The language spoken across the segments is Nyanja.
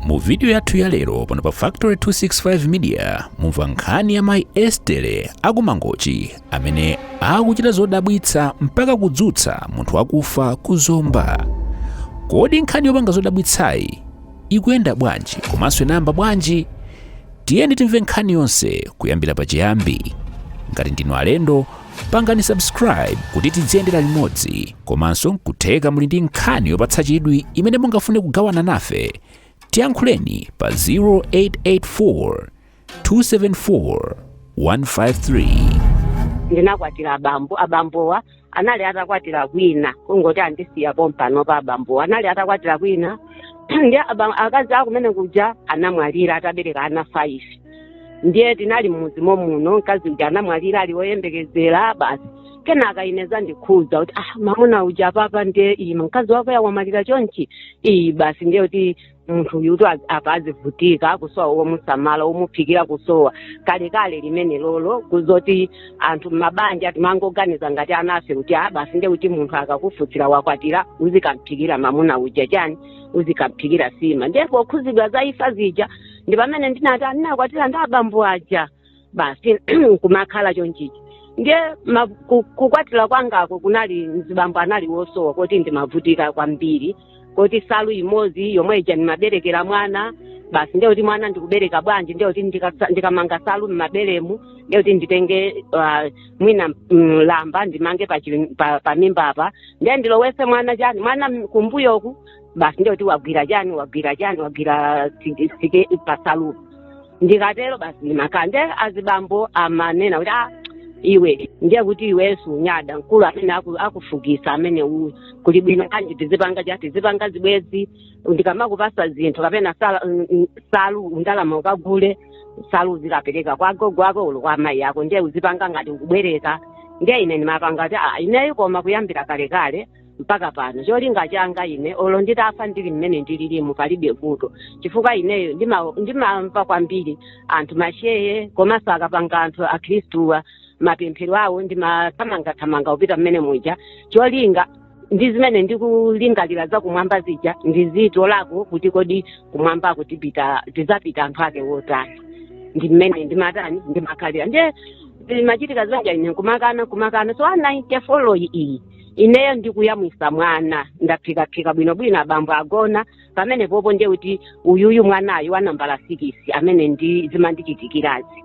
mu vidiyo yathu ya lero pano pa factory 265 media mumva nkhani ya mayi estere aku mangochi amene akuchita zodabwitsa mpaka kudzutsa munthu wakufa ku zomba kodi nkhani yopanga zodabwitsayi ikuyenda bwanji komanso inayamba bwanji tiyeni timve nkhani yonse kuyambira pachiyambi ngati ndinu alendo pangani subscribe kuti tidziyendera limodzi komanso nkutheka muli ndi nkhani yopatsa chidwi imene mungafune kugawana nafe tiyankhuleni pa 0884 274 153 ndinakwatira abambo abambowa anali atakwatira kwina kungoti andisiya pompanopa abambowa anali atakwatira kwina ndi aba- akazi akumene kuja anamwalira atabereka ana 5 ndiye tinali m'mudzi momuno mkazi uja anamwalira ali woyembekezera basi kenaka inezandikhuza kuti ah mamuna uja apapa ndiye iyi mkazi wako wamwalira chonchi iyi basi ndiye kuti munthu uyu kuti apa azivutika kusowa womusamala womuphikira kusowa kalekale limene lolo kuzoti anthu mabanja timangoganiza ngati anafe kuti ah basi ndiye kuti munthu akakufutsira wakwatira uzikamphikira mamuna uja chani uzikamphikira sima ndiye pokhuzidwa za imfa zija ndi pamene ndinati ndinakwatira ndi abambo aja basi kumakhala chonchichi ndiye ma- ku- kukwatira kwangako kunali mzibambo anali wosowa kuti ndimavutika kwambiri kuti salu imodzi yomwe ija ndimaberekera mwana basi ndiye kuti mwana ndikubereka bwanji ndiye kuti ndikasa- ndikamanga salu mmaberemu ndiye kuti nditenge ah, mwina mm, lamba ndimange pa chili- pa- pa mimba apa ndiye ndilowese mwana chani mwana m- kumbuyoku basi ndiye kuti wagwira chani wagwira chani wagwira tike- tike pasalu ndikatero basi ndimakhala nde azibambo amanena kuti ah, iwe ndiye kuti iwenso unyada mkulu amene aku- akufukisa amene uyu kuli bwino kanji tizipanga chani tizipanga zibwezi ndikamakupasa zinthu kapena sala- mm, mm, salu ulo ndalama ukagule salu uzikapereka kwa gogo ako ulo kwa amayi ako ndiye uzipanga ngati ukubwereka ndiye ine ndimapanga kuti ah, ineyo koma kuyambira kalekale mpaka pano cholinga changa ine olo nditafa ndili mmene ndililimu palibe vuto chifukwa ineyo ndima- ndimamva kwambiri anthu mashehe komanso akapanga anthu akhristuwa mapemphero awo ndimathamangathamanga kupita mmene muja cholinga ndi zimene ndikulingalira za kumwamba zija ndizitolako kuti kodi kumwambako tizapita anthu ake wotani ndi mmene ndimatani ndimakhalira ndiye machitika zanja ine kumakana kumakana so a 94 iyi ineyo ndikuyamwisa mwana ndaphikaphika bwinobwino abambo agona pamene popo ndiye kuti uyuyu mwanayu wa nambala sikisi amene zimandichitikirazi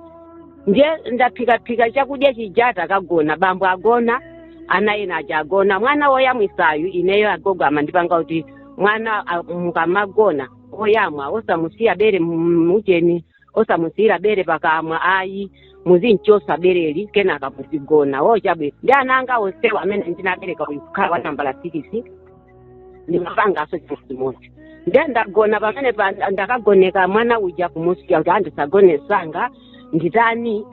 ndiye ndaphikaphika chakudya chijata kagona bambo agona ana ena aja agona mwana woyamwisayu ineyo agogo amandipanga kuti mwana a- mukamagona woyamwa osamusiya bere mujeni osamusiyira bere pakamwa ayi muzimchosa bereli kenaka muzigona wo chabwino ndi ana anga onsewa amene ndinabereka uyu kukhala wa nambala sikisi ndimapangaso chimodzimodzi nde ndagona pamene pa ndakagoneka mwana uja kumusiya kuti andisagone sanga nditani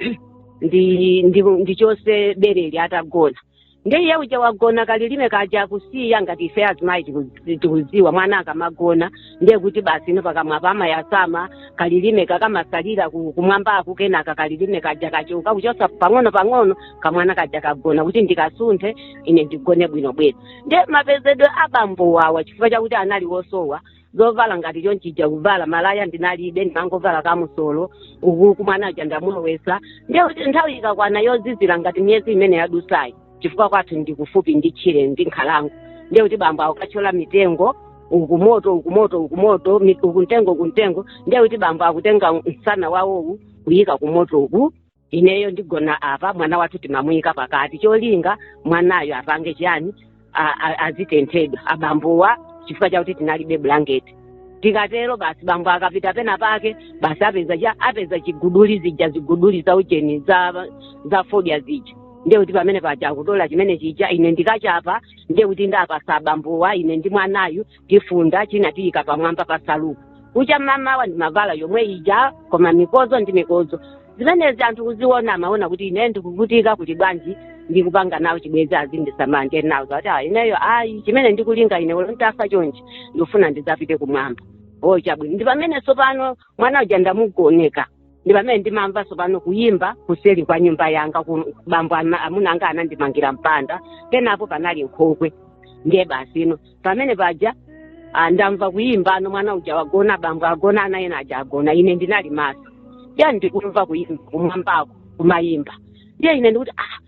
ndi ndi ndichose bereli atagona ndiye iye uja wagona kalilime kaja kusiya ngati ife azimayi tiku- tikuziwa mwana akamagona ndiye kuti basi ino pakamwa pamayasama kalilime kakamasalira ku- kumwambaku kenaka kalilime kaja kachoka kuchosa pang'ono pang'ono kamwana kaja kagona kuti ndikasunthe ine ndigone bwinobwino ndiye mapezedwe abambo wawa chifukwa chakuti anali wosowa zovala ngati chonchija kuvala malaya ndinalibe ndimangovala kamusolo uku kamwana kaja ndamulowesa ndiye kuti nthawi ikakwana yozizira ngati miyezi imene yadusayi chifukwa kwathu ndi kufupi ndi tchire ndi nkhalango ndiye kuti bambo akukatchola mitengo uku moto uku moto uku moto mi- uku mtengo uku mtengo ndiye kuti bambo akutenga msana wawowu kuyika ku moto uku ineyo ndigona apa mwana wathu timamuyika pakati cholinga mwanayo apange chiyani a- a- azitenthedwa abambowa chifukwa chakuti tinalibe bulangeti tikatero basi bambo akapita pena pake basi apeza ch- apeza chiguduli zija ziguduli za ujeni za za fodya zija ndiye kuti pamene paja akutola chimene chija ine ndikachapa ndiye kuti ndapasa abambowa ine ndi mwanayu tifunda china tiyika pamwamba pa saluku kucha mamawa ndimavala yomwe ija koma mikozo ndi mikozo zimenezi anthu kuziona amaona kuti ine ndikuvutika kuti bwanji ndikupanga nawo chibwezi azindisamala ndiye nawo zati "Ah, ineyo ayi chimene ndikulinga ine olo ntafa chonchi ndikufuna ndizapite kumwamba o chabwino ndi pamene tsopano mwana uja ndamugoneka ndi pamene ndimamva tsopano kuyimba kuseli kwa nyumba yanga kuno bambo ana- amuna anga anandimangira mpanda penapo panali nkhokwe ndiye basi ino pamene paja ah, ndamva kuyimba no mwana uja wagona bambo agona ana ena aja agona ine ndinali maso ndiye ndikumva kuyimba kumwambako kumayimba ndiye ine ndikuti ah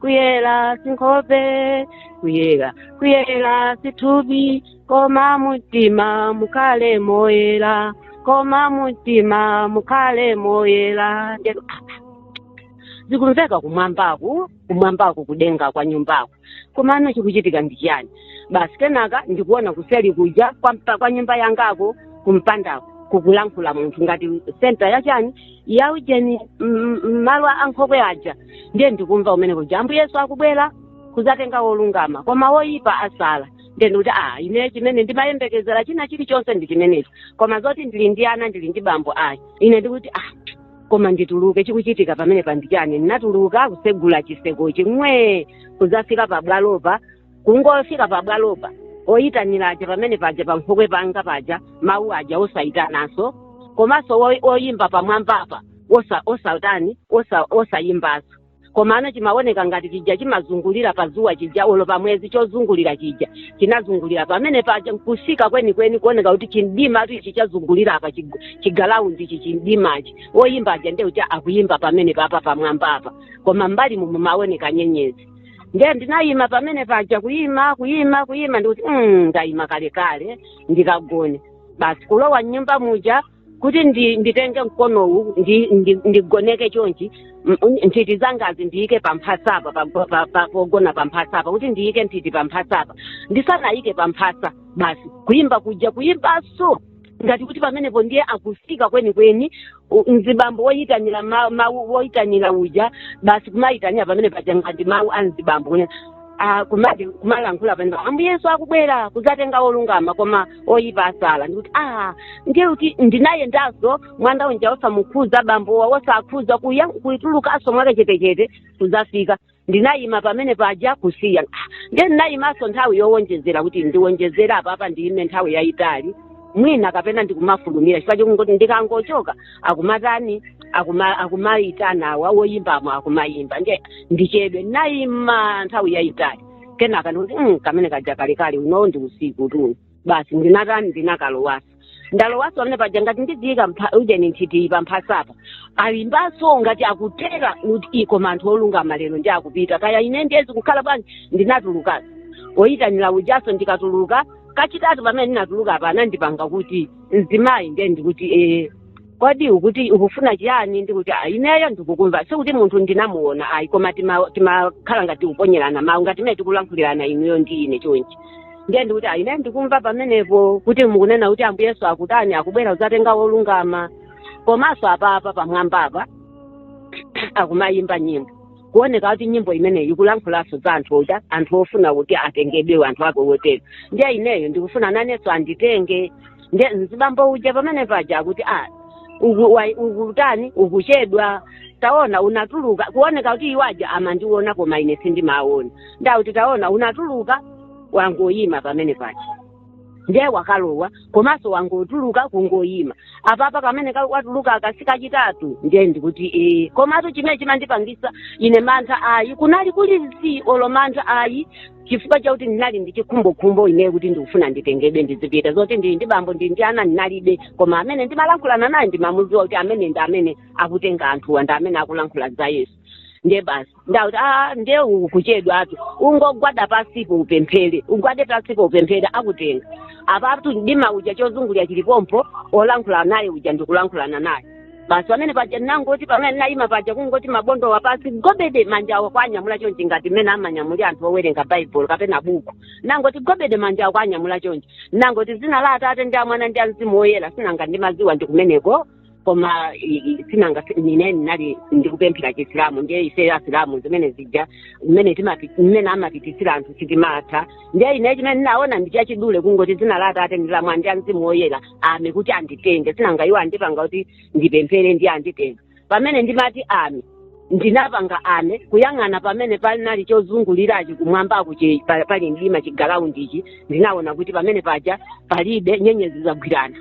kuyera sinkhope kuyera kuyera sithupi koma mumtima mukhale moyera koma mumtima mukhale moyera zikumveka kumwambaku kumwambaku kudenga kwa nyumbako komano chikuchitika ndi chiyani basi kenaka ndikuona kuseli kuja kwa, mpa- kwa nyumba yangako kumpandako kukulankhula munthu ngati senta yachani ya ujeni mm, mm, malo a nkhokwe aja ndiye ndikumva kumene kuja ambuye yesu akubwera kuzatenga wolungama koma woyipa asala ndiye ndikuti a ine chimene ndimayembekezera china chilichonse ndi chimenechi koma zoti ndili ndi ana ndili ndi bambo ayi ine ndikuti a koma ndituluke chikuchitika pamene pandichani ndinatuluka kutsegula chitsekochi mwee kuzafika pabwalopa kungofika pabwalopa oyitanira aja pamene paja pankhokwe panga paja mawu aja osayitananso komanso wo- oyimba pamwambapa osa osatani osa osayimbanso komano chimaoneka ngati chija chimazungulira padzuwa chija olo pa mwezi chozungulira chija chinazungulira pamene paja nkusika kwenikweni kuoneka kuti chimdimatu ichi chazungulira apa chigu- chigalaundi ichi chimdimachi oyimba aja ndeuti akuyimba pamene papa pamwambapa koma mbali mumu mumaoneka nyenyezi ndiye ndinayima pamene paja kuyima kuyima kuyima ndikuti mm, ndayima kalekale ndikagone basi kulowa mnyumba muja kuti ndi, nditenge mkonowu ndi, ndi, ndigoneke chonchi m- un- nthiti zangazi ndiyike pamphasapa pa- pa- pa- pa- pogona pamphasapa kuti ndiyike nthiti pamphasapa ndisanayike pamphasa basi kuyimba kuja kuyimbaso ngati kuti pamenepo ndiye akutsika kwenikweni u- mzibambo woyitanira ma- mawu woyitanira uja basi kumayitanira pamene paja ngati mawu a mzibambo kunya ah, kumati kumalankhula pamene ambuye yesu akubwera kudzatenga olungama koma oyipa asala ndikuti ah ndiye kuti ndinayendanso mwanda unja wosamukhuza bambowa wosakhudza kuya- kutulukanso mwakachetechete kudzafika ndinayima pamene paja kusiya ndiye ndinayimanso nthawi yowonjezera kuti ndiwonjezera apapa ndiyime nthawi yayitali mwina kapena ndikumafulumira chifukwa chokungoti ndikangochoka akumatani akuma- akumayitana awa woyimbamo akumayimba nde ndichedwe ndinayima nthawi yayitali kenaka ndikuti "Mm, kamene kaja kalekale unowo ndi usikutu basi ndinatani ndinakalowanso ndalowaso pamene paja ngati ndidziyika mpha- ujeni nthiti pamphasapa ayimbaso ngati akutera kuti ii koma anthu olungama lero ndi akupita kaya ine ndiyezi kukhala bwanji ndinatulukaso oyitanira ujaso ndikatuluka kachitatu pamene ndinatuluka apa anandipanga kuti mzimayi ndiye ndikuti ee kodi ukuti ukufuna chiyani ndikuti "Ah, ineyo ndikukumva sikuti munthu ndinamuona ayi koma tima- timakhala ngati tikuponyerana mawu ngati mene tikulankhulirana inuyo ndi ine chonchi ndiye ndikuti "Ah, ineyo ndikumva pamenepo kuti mukunena kuti ambuye yesu akutani akubwera kudzatenga wolungama komanso apapa pamwamba apa akumayimba nyimbo kuoneka kuti nyimbo imeneyi ikulankhulanso za anthu oda anthu ofuna kuti atengedwe anthu ake wotero ndiye ineyo ndikufuna nanenso anditenge nde mzibambo uja pamene paja akuti a uku- wa- ukutani ukuchedwa taona unatuluka kuoneka kuti iwaja amandiona koma ine sindimaona nde akuti taona unatuluka wangoyima pamene paja ndiye wakalowa komanso wangotuluka kungoyima apapa kamene ka- watuluka aka si kachitatu ndiye ndikuti ee komatu chimene chimandipangisa ine mantha ayi kunali kuli zii olo mantha ayi chifukwa chakuti ndinali ndi chikhumbokhumbo ineyo kuti ndikufuna nditengedwe ndizipita zoti ndili ndi bambo ndili ndi ana ndinalibe koma amene ndimalankhulana naye ndimamudziwa kuti amene ndi amene akutenga anthuwa ndi amene akulankhula za yesu ndiye basi ndauti a ndiye ukuchedwatu ungogwada pasipo upemphere ugwade pasipo upemphere akutenga apatu mdima uja chozungulira chilipompo olankhula naye uja ndikulankhulana naye basi pamene paja ndinangoti pamene ndinayima paja kungoti mabondo wapansi gobede manja awo kwanyamula chonchi ngati mmene amanyamulira anthu owerenga baibulo kapena buku nangoti gobede manja awo kwanyamula chonchi nangoti dzina la atate ndi la mwana ndi la mzimu woyera sinanga ndimaziwa ndi kumeneko koma i- i- sinanga si- nine ndinali ndikupemphera chisilamu ndiye ife asilamu zimene zija mmene timapi- mmene amapitsira anthu sitimatha ndiye ine chimene ndinaona ndi chachidule kungoti dzina la atate ndi la mwana ndi la mzimu woyera ame kuti anditenge sinanga iwo andipanga kuti ndipemphere ndiye anditenga pamene ndimati ame ndinapanga ame kuyang'ana pamene panali chozungulirachi kumwambaku chi- pa- pali mdima chigilawundichi ndinaona kuti pamene paja palibe nyenyezi zagwirana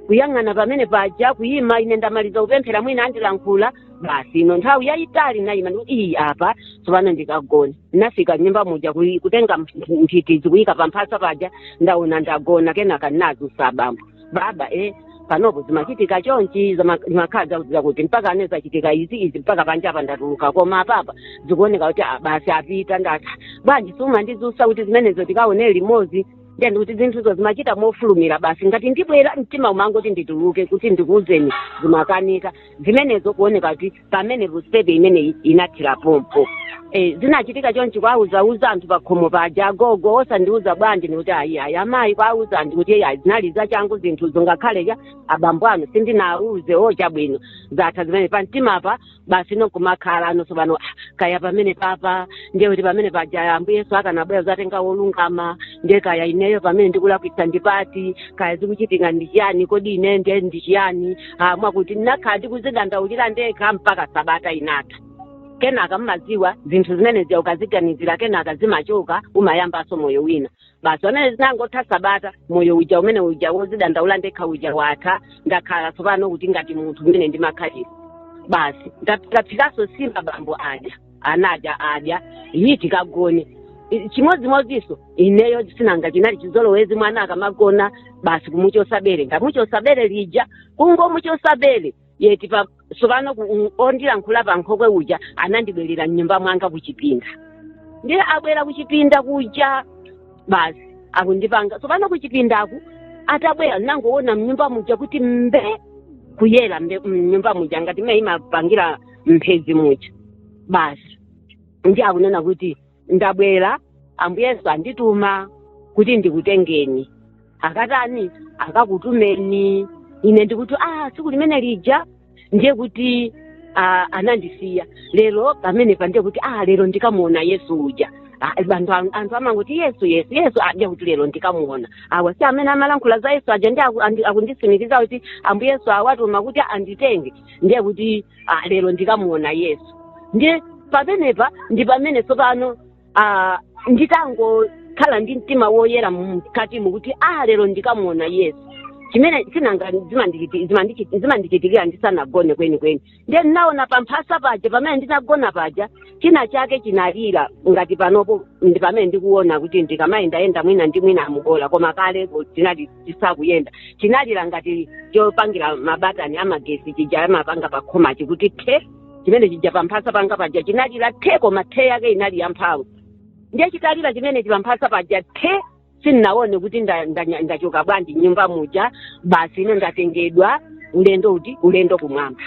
kuyang'ana pamene paja kuyima ine ndamaliza kupemphera mwina andilankhula basi ino nthawi yayitali nayima ndikuti iyi apa tsopano ndikagona ndinafika nyumba muja kuyi- kutenga mph- nthitizi kuyika pa mphasa paja ndaona ndagona kenaka ndinazusa abambo baba e panopa zimachitika chonchi zama- zimakhala zokuuza kuti mpaka anena zachitika izi izi mpaka panja apa ndatuluka koma apapa zikuoneka kuti ah, basi apita ndati bwanji sumandizusa kuti zimenezo tikaone limodzi ndiye ndikuti zinthuzo zimachitika mofulumira basi ngati ndibwera mtima umangoti ndituluke kuti ndikuuzeni zimakanika zimenezo kuoneka kuti pamene ruspepe imeneyi inathira pompo Eh, zinachitika chonchi kwauzauza anthu pakhomo paja agogo osandiuza bwanji ndikuti ayi ayi amayi kwauza anthu kuti eyi ayi zinali zachangu zinthuzo ngakhale cha abambo anu sindinauze o chabwino zatha zimene pa mtima pa basi nkumakhala anonso pano "Ah, kaya pamene papa ndiye kuti pamene paja ambuye yesu akanabwera zatenga wolungama ndiye kaya ineyo pamene ndikulakwitsa ndipati kaya zikuchitika ndi chiyani kodi ine ndiye ndi chiyani ah, mwakuti ndinakhala ndikuzidandaulira ndekha mpaka sabata inatha kenaka mmaziwa zinthu zimene zija ukaziganizira kenaka zimachoka umayambanso moyo wina basi pamene zinangotha sabata moyo uja umene uja wozidandaula ndekha uja watha ndakhala tsopano kuti ngati munthu mmene ndimakhalira basi ndaphikaso sima abambo aja anadya adya iyi tikagone I- chimodzimodzinso ineyo sinanga chinali chizolowezi mwana akamagona basi kumuchosa bere ndamuchosa bere lija kungomuchosa bere yeti pa sopano ku- u- ondilankhula pa nkhokwe uja anandibwerera mnyumba mwanga kuchipinda ndiye abwera kuchipinda kuja basi akundipanga sopano kuchipindaku atabwera nangoona mnyumba muja kuti mbe kuyera mbe- mnyumba muja ngati mmene imapangira mphezi muja basi ndi akunena kuti ndabwera ambuye yesu andituma kuti ndikutengeni akatani akakutumeni ine ndikuti ah tsiku limene lija ndiye kuti ah, anandisiya lero pamenepa ndiye kuti ah lero ndikamuona yesu uja Ah, anthu am- anthu amangoti yesu yesu yesu ndiye kuti lero ndikamuona awa si amene amalankhula za yesu aja ndi aku- andi- akundisimikiza kuti ambuye yesu awatuma kuti anditenge ndiye kuti ah, lero ndikamuona yesu ndiye pamenepa ndi pamene tsopano ah, nditangokhala ndi mtima woyera mkatimo kuti ah, lero ndikamuona yesu chimene sichina zimandichiti- zimandichi- zimandichitikira ndisanagone kwenikweni ndiye ndinaona pamphasa paja pamene ndinagona paja china chake chinalira ngati panopo ndi pamene ndikuona kuti ndikamayendayenda mwina ndi mwina mugona koma kale tinali tisakuyenda chinalira ngati chopangira mabatani amagesi chija amapanga pa khomachi kuti the chimene chija pamphasa panga paja chinalira the koma the yake inali yamphamvu ndiye chitalira chimene chipamphasa paja the sindinaone kuti nda- ndanya- ndachoka bwanji m'nyumba muja basi ine ndatengedwa ulendo uti ulendo kumwamba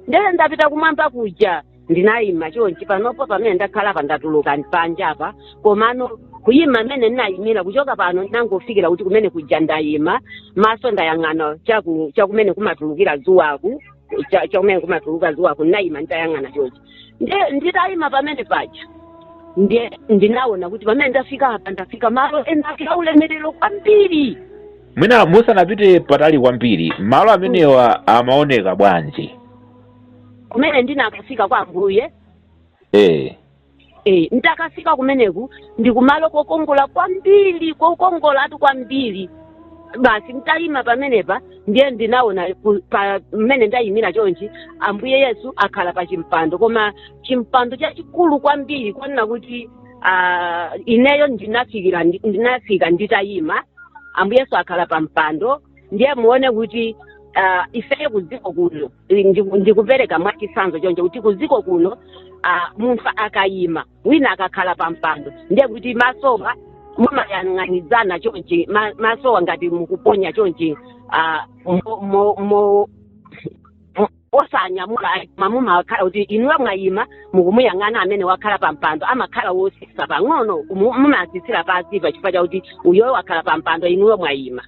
ndee ndapita kumwamba kuja ndinayima chonchi panopo pamene ndakhala pa ndatuluka panja apa komano kuyima mmene ndinayimira kuchoka pano ndinangofikira kuti kumene kuja ndayima maso ndayang'ana chaku- chakumene kumatulukira zuwaku cha- chakumene kumatuluka zuwaku ndinayima nditayang'ana chonchi Ndi- nditayima pamene paja ndiye ndinaona kuti pamene ndafika apa ndafika malo enake aulemerero kwambiri mwina musanapite patali kwambiri malo amenewa amaoneka bwanji kumene ndinakafika kwa ambuye eh Eh, nditakafika kumeneku ndi kumalo kokongola kwambiri kokongolatu kwambiri basi nditayima pamenepa ndiye ndinaona ku- pa- mmene ndayimira chonchi ambuye yesu akhala pa chimpando koma chimpando chachikulu kwambiri kunena kuti ah, ineyo ndinafikira ndi- ndinafika nditayima ambuye yesu akhala pa mpando ndiye muone kuti ah, ifeyo kudziko kuno Ndi- ndi- ndikupereka mwachisanzo choncho kuti kuziko kuno ah, munthu akayima wina akakhala pa mpando ndiye kuti masowa mumayang'anizana chonchi ma- masowa ngati mukuponya chonchi ah, mo- mo- mo- osanyamula ayi, koma mumakhala kuti inuyo mwayima mukumuyang'ana amene wakhala pa mpando amakhala wosisa pang'ono mu- mumasisira pansi chifukwa chakuti uyoyo wakhala pa mpando inuyo mwayima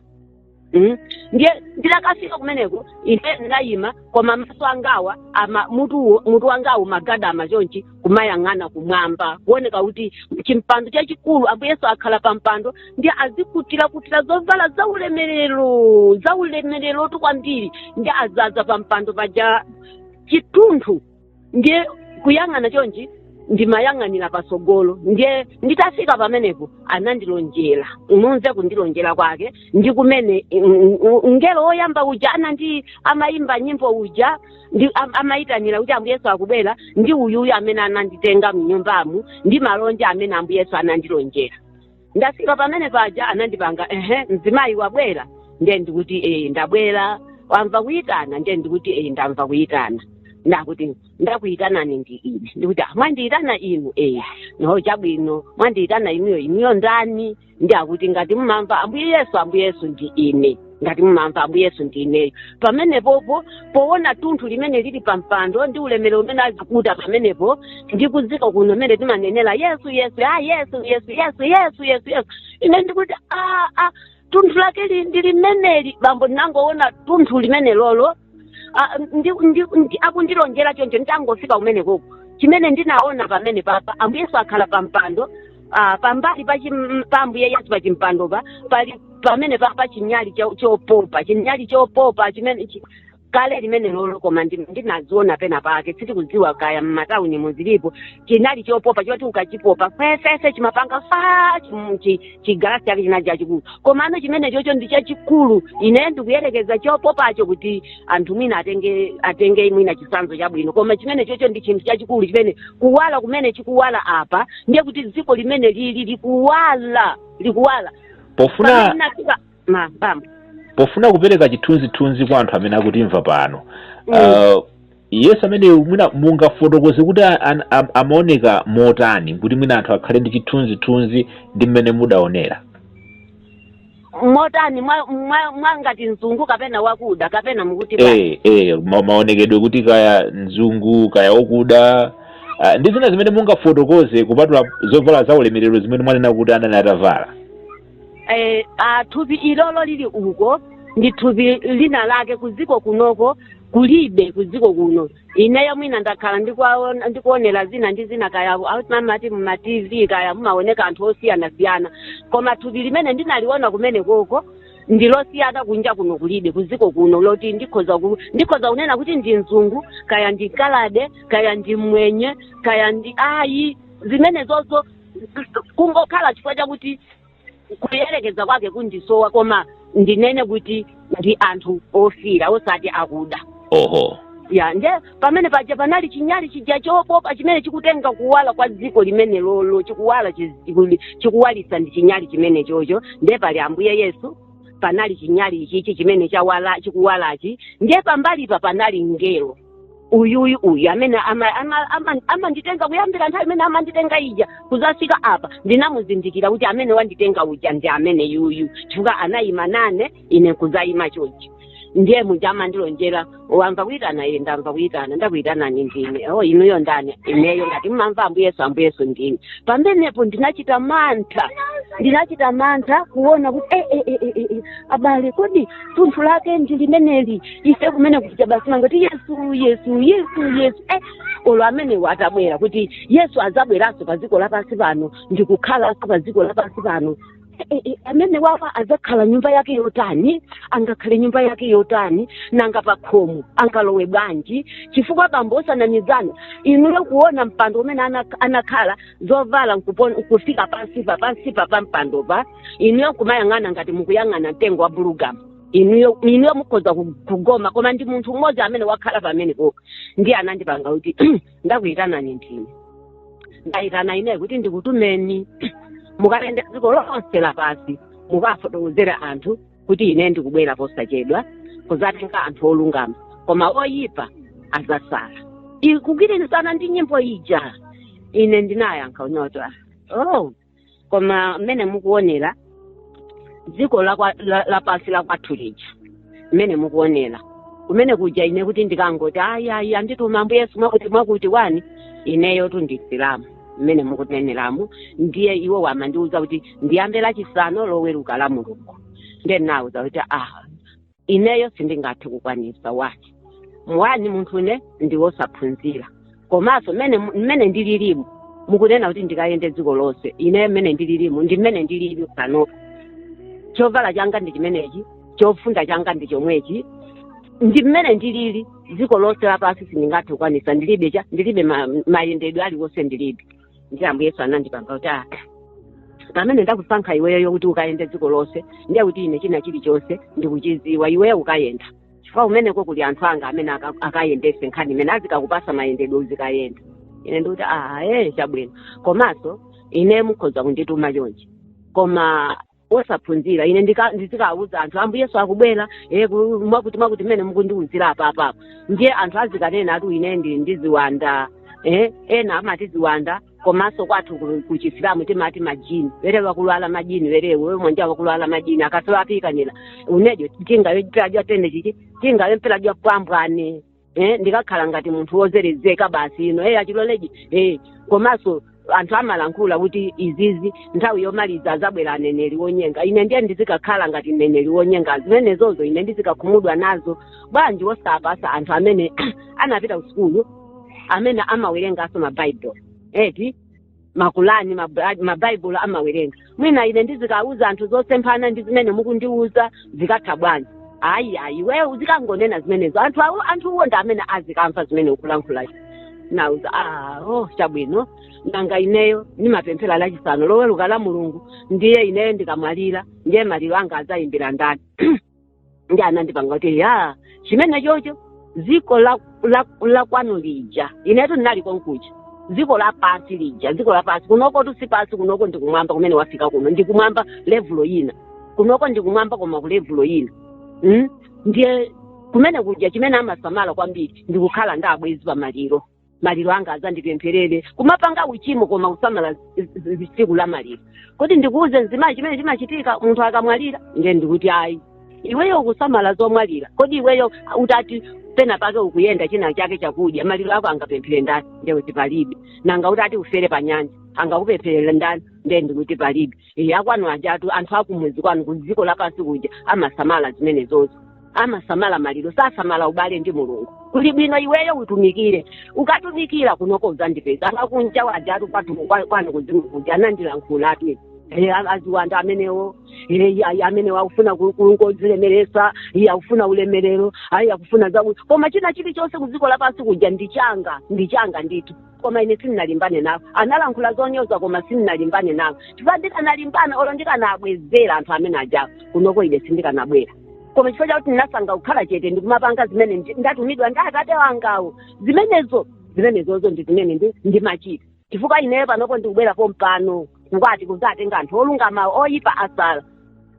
Mm. ndiye ndidakafika kumeneko ine ndinayima koma maso angawa ama mutuwo mutu wangawo mogadama chonchi kumayang'ana kumwamba kuoneka kuti chimpando chachikulu ambuye yesu akhala pa mpando ndiye azikutira kutira zovala za ulemerero za ulemererotu kwambiri ndiye azaza pa mpando paja chitunthu ndiye kuyang'ana chonchi ndimayang'anira patsogolo ndiye nditafika pamenepo anandilonjera mumve kundilonjera kwake ndi kumene mm, mm, mngelo woyamba uja anandi amayimba nyimbo uja ndi am- amayitanira kuti ambuye yesu akubwera ndi uyuyu amene ananditenga mnyumbamu ndi malonje amene ambuye yesu anandilonjera ndafika pamenepaja anandipanga ehe mzimayi wabwera ndiye ndikuti ee ndabwera wamva kuyitana ndiye ndikuti ee ndamva kuyitana ndakuti ndakuyitanani ndi ine ndikuti "Ah, mwandiyitana inu ee no chabwino mwandiyitana inuyo inuyo ndani ndi akuti ngati mumamva ambuye yesu ambuye yesu ndi ine ngati mumamva ambuye yesu ndi ineyo pamenepopo powona tunthu limene lili pa mpando ndi ulemerero umene azikuta pamenepo ndi kuziko kuno mene timanenera yesu yesu a yesu yesu yesu yesu yesu yesu ine ndikuti a a tunthu lake li- ndi limeneli bambo ndinangoona tunthu limenelolo Ah, ndi- ndi- ndi- akundilonjera choncho nditangofika kumenekoko chimene ndinaona pamenepapa ambuye yesu akhala pa mpando ah, pambali pa chim- pa ambuye yesu pa chimpandopa pali pamenepapa chinyali cho- chopopa chinyali chopopa chimene chi- kale limenelolo koma ndi- ndinaziona pena pake sindikudziwa kaya m'matawuni muzilipo chinali chopopa choti ukachipopa fefefe chimapanga fa chim- chi- chigalasi chake chinali chachikulu komano chimenechocho ndi chachikulu ine ndikuyerekeza chopopacho kuti anthu mwina atenge atenge mwina chisanzo chabwino koma chimenechocho ndi chinthu chachikulu chimene kuwala kumene chikuwala apa ndiye kuti dziko limenelili likuwala likuwala pofuna Pamene ndinafika- ma bam pofuna kupereka chithunzithunzi kwa anthu amene akutimva pano Mm. uh, yesu amene mwina mungafotokoze kuti a- an- am- amaoneka motani kuti mwina anthu akhale ndi chithunzithunzi ndi mmene mudaonera motani mwa- mwa- mwangati mzungu kapena wakuda kapena mukuti bwa- eh, eh, ma- maonekedwe kuti kaya mzungu kaya wakuda uh, ndi zina zimene mungafotokoze kupatula zovala za ulemerero zimene mwanena kuti anali atavala eh, ah, thupi ilolo lili uko ndi thupi lina lake kuziko kunoko kulibe kuziko kuno ineyo mwina ndakhala ndikuwaona- ndikuonera zina ndi zina kaya amati muma tv kaya mumaoneka anthu osiyanasiyana koma thupi limene ndinaliona kumenekoko ndilosiyana kunja kuno kulibe kuziko kuno loti ndikhoza ku, ndikhoza kunena kuti ndi mzungu kaya ndi mkaladi kaya ndi mmwenye kaya ndi ayi zimenezozo kungokhala chifukwa chakuti kuyerekeza kwake kundisowa koma ndinene kuti ndi anthu ofira osati akuda oho ya nde pamenepaja panali chinyali chija chopopa chimene chikutenga kuwala kwa dziko limenelolo chikuwala chi- chiku- chikuwalitsa ndi chinyali chimenechocho nde pali ambuye yesu panali chinyali ichichi chimene chawala chikuwalachi nde pambalipa panali mngelo uyu uyu uyu amene ama- ama- ama- amanditenga kuyambira nthawi imene amanditenga ija kuzafika apa ndinamuzindikira kuti amene wanditenga uja ndi amene yuyu chifukwa anayima nane ine nkuzayima chochi ndiye muja amandilonjera wamva kuyitana iye ndamva kuyitana ndakuyitanani ndine o inuyo ndani ineyo ngati mmamva ambuye yesu ambuye yesu ndine pamenepo ndinachita mantha ndinachita mantha kuona kuti eh, eh, eh, eh, eh, abale kodi thunthu lake ndi limeneli ife kumene kuja basi mangoti yesu yesu yesu yesu eh, olo amenewo atabwera kuti yesu azabweranso pa dziko lapansi pano ndikukhalanso pa dziko lapansi pano Eh, eh, eh, amene wawa azakhala nyumba yake yotani angakhale nyumba yake yotani nanga pa khomo angalowe bwanji chifukwa bambo osanamizana inuyo kuona mpando umene ana- anakhala zovala nkupon- nkufika pansipa pansipa pa mpandopa inuyo kumayang'ana ngati mukuyang'ana mtengo wa bulugamu inuyo inuyo mukhoza ku- kugoma koma ndi munthu mmodzi amene wakhala pamenepo ka ndiye anandipanga kuti ndakuyitanani ndine ndayitana ineyo kuti ndikutumeni mukayende dziko lonse lapansi mukafotokozere anthu kuti ine ndikubwera posachedwa kuzatenga anthu olungama koma oyipa azasala kugwirizana ndi nyimbo ija ine ndinayankha unyota oh koma mmene mukuonera dziko lakwa- la- lapansi la kwathu lija mmene mukuonera kumene kuja ine kuti ndikangoti ayi ayi andituma ambuye yesu mwakuti mwakuti wani ineyotu ndi msilamu mmene mukuneneramu ndiye iwo amandiuza kuti ndiyambe lachisanu loweruka lamulungu ndiye ndinauza kuti ah ineyo sindingathe kukwanisa wani wani munthune ndiwosaphunzira komanso mmene mmene ndililimu mukunena kuti ndikayende dziko lonse ine mmene ndililimu ndi mmene ndilili panopa chovala changa ndi chimenechi chofunda changa ndi chomwechi ndi mmene ndilili dziko lonse lapansi sindingathe kukwanisa ndilibe cha ndilibe ma- mayendedwe aliwonse ndilibe ndiye ambuye yesu anandipanga kuti ah, pamene ndakusankha iweyo kuti ukayende dziko lonse ndiye kuti ine china chilichonse ndikuchiziwa iweyo ukayenda chifukwa kumeneko kuli anthu anga amene aka- akayendese nkhani imene azikakupasa mayendedwe uzikayenda ine ndikuti ah, ee chabwino komanso ine mukhoza kundituma chonchi koma osaphunzira ine ndika- ndizikawuza anthu ambuye yesu akubwera eh, ku- mwakuti mwakuti mmene mukundiwuzira apapa ndiye anthu azikanena ati ine ndi ndi ziwanda eh, ena amati ziwanda komanso kwathu ku- ku chisilamu timati majini were wakulwala majini werewo we mwanja wakulwala majini akasawapikanila unejo tingawe mpela jwatende chichi tingawe mpela jwapambwane eh, ndikakhala ngati munthu wozerezeka basi you know eh, achiloleji eh, komanso anthu amalankhula kuti izizi nthawi yomaliza azabwera aneneri wonyenga ine ndiye ndizikakhala ngati mneneri wonyenga zimenezozo ine ndizikakhumudwa nazo bwanji wosapasa anthu amene anapita kusukulu amene amawerenganso mabaibulo eti makulani maba- mabaibulo amawerenga mwina ine ndizikauza anthu zosemphana ndi zimene mukundiuza zikatha bwanji ayi ayi iwe uzikangonena zimenezo anthu awo anthuwo ndi amene azikamva zimene ukulankhula ndawuza ah, oh, chabwino nanga ineyo ndimapemphera lachisanu loweruka la mulungu ndiye ineyo ndikamwalira ndiye maliro anga azayimbira ndani nde anandipanga kuti ya chimene chocho dziko la, la, la kwanu lija inetu ndinali konkuja dziko la pansi lija dziko la pansi kunokotu si pansi kunoko ndi kumwamba kumene wafika kuno ndi kumwamba levulo ina kunoko ndi kumwamba koma ku levulo ina mm? ndiye kumene kuja chimene amasamala kwambiri ndi kukhala ndi abwezi pamaliro maliro anga adzandipempherere kumapanga uchimo koma kusamala z- z- z- tsiku la maliro kodi ndikuuze mzimayi chimene chimachitika munthu akamwalira nde ndikuti ayi iweyo ukusamala zomwalira kodi iweyo utati pena pake ukuyenda china chake chakudya maliro ako angapemphere ndani nde ndikuti palibe nanga utati ufere pa nyanja angakupempherere ndani nde ndikuti palibe e, akwanu ajatu anthu akumudzi kwanu ku dziko lapansi kuja amasamala zimenezozo amasamala maliro sasamala ubale ndi mulungu kuli bwino iweyo utumikire ukatumikira kunoko uzandipeza anthu akunja ajatu kwatu kwa- kwanu kuzimu kuja anandilankhulatu Eh, a- aziwanda amenewo eh, ya- ya- amenewo akufuna ku- kungodzilemeresa iye akufuna ulemerero ayi akufuna zaku koma china chilichonse ku dziko lapansi kuja ndichanga ndichanga ndithu koma ine sindinalimbane nawo analankhula zonyoza koma sindinalimbane nawo chifukwa ndikanalimbana olo ndikanabwezera anthu amene ajawo kunoko ine sindikanabwera koma chifukwa chakuti ndinasankha kukhala chete ndikumapanga zimene ndi- ndatumidwa ndi atate wangawo zimenezo zimenezozo ndi zimene ndi- ndimachita chifukwa ineyo panopo ndikubwera pompano kukwatu- kuzatenga anthu olungamawo oyipa asale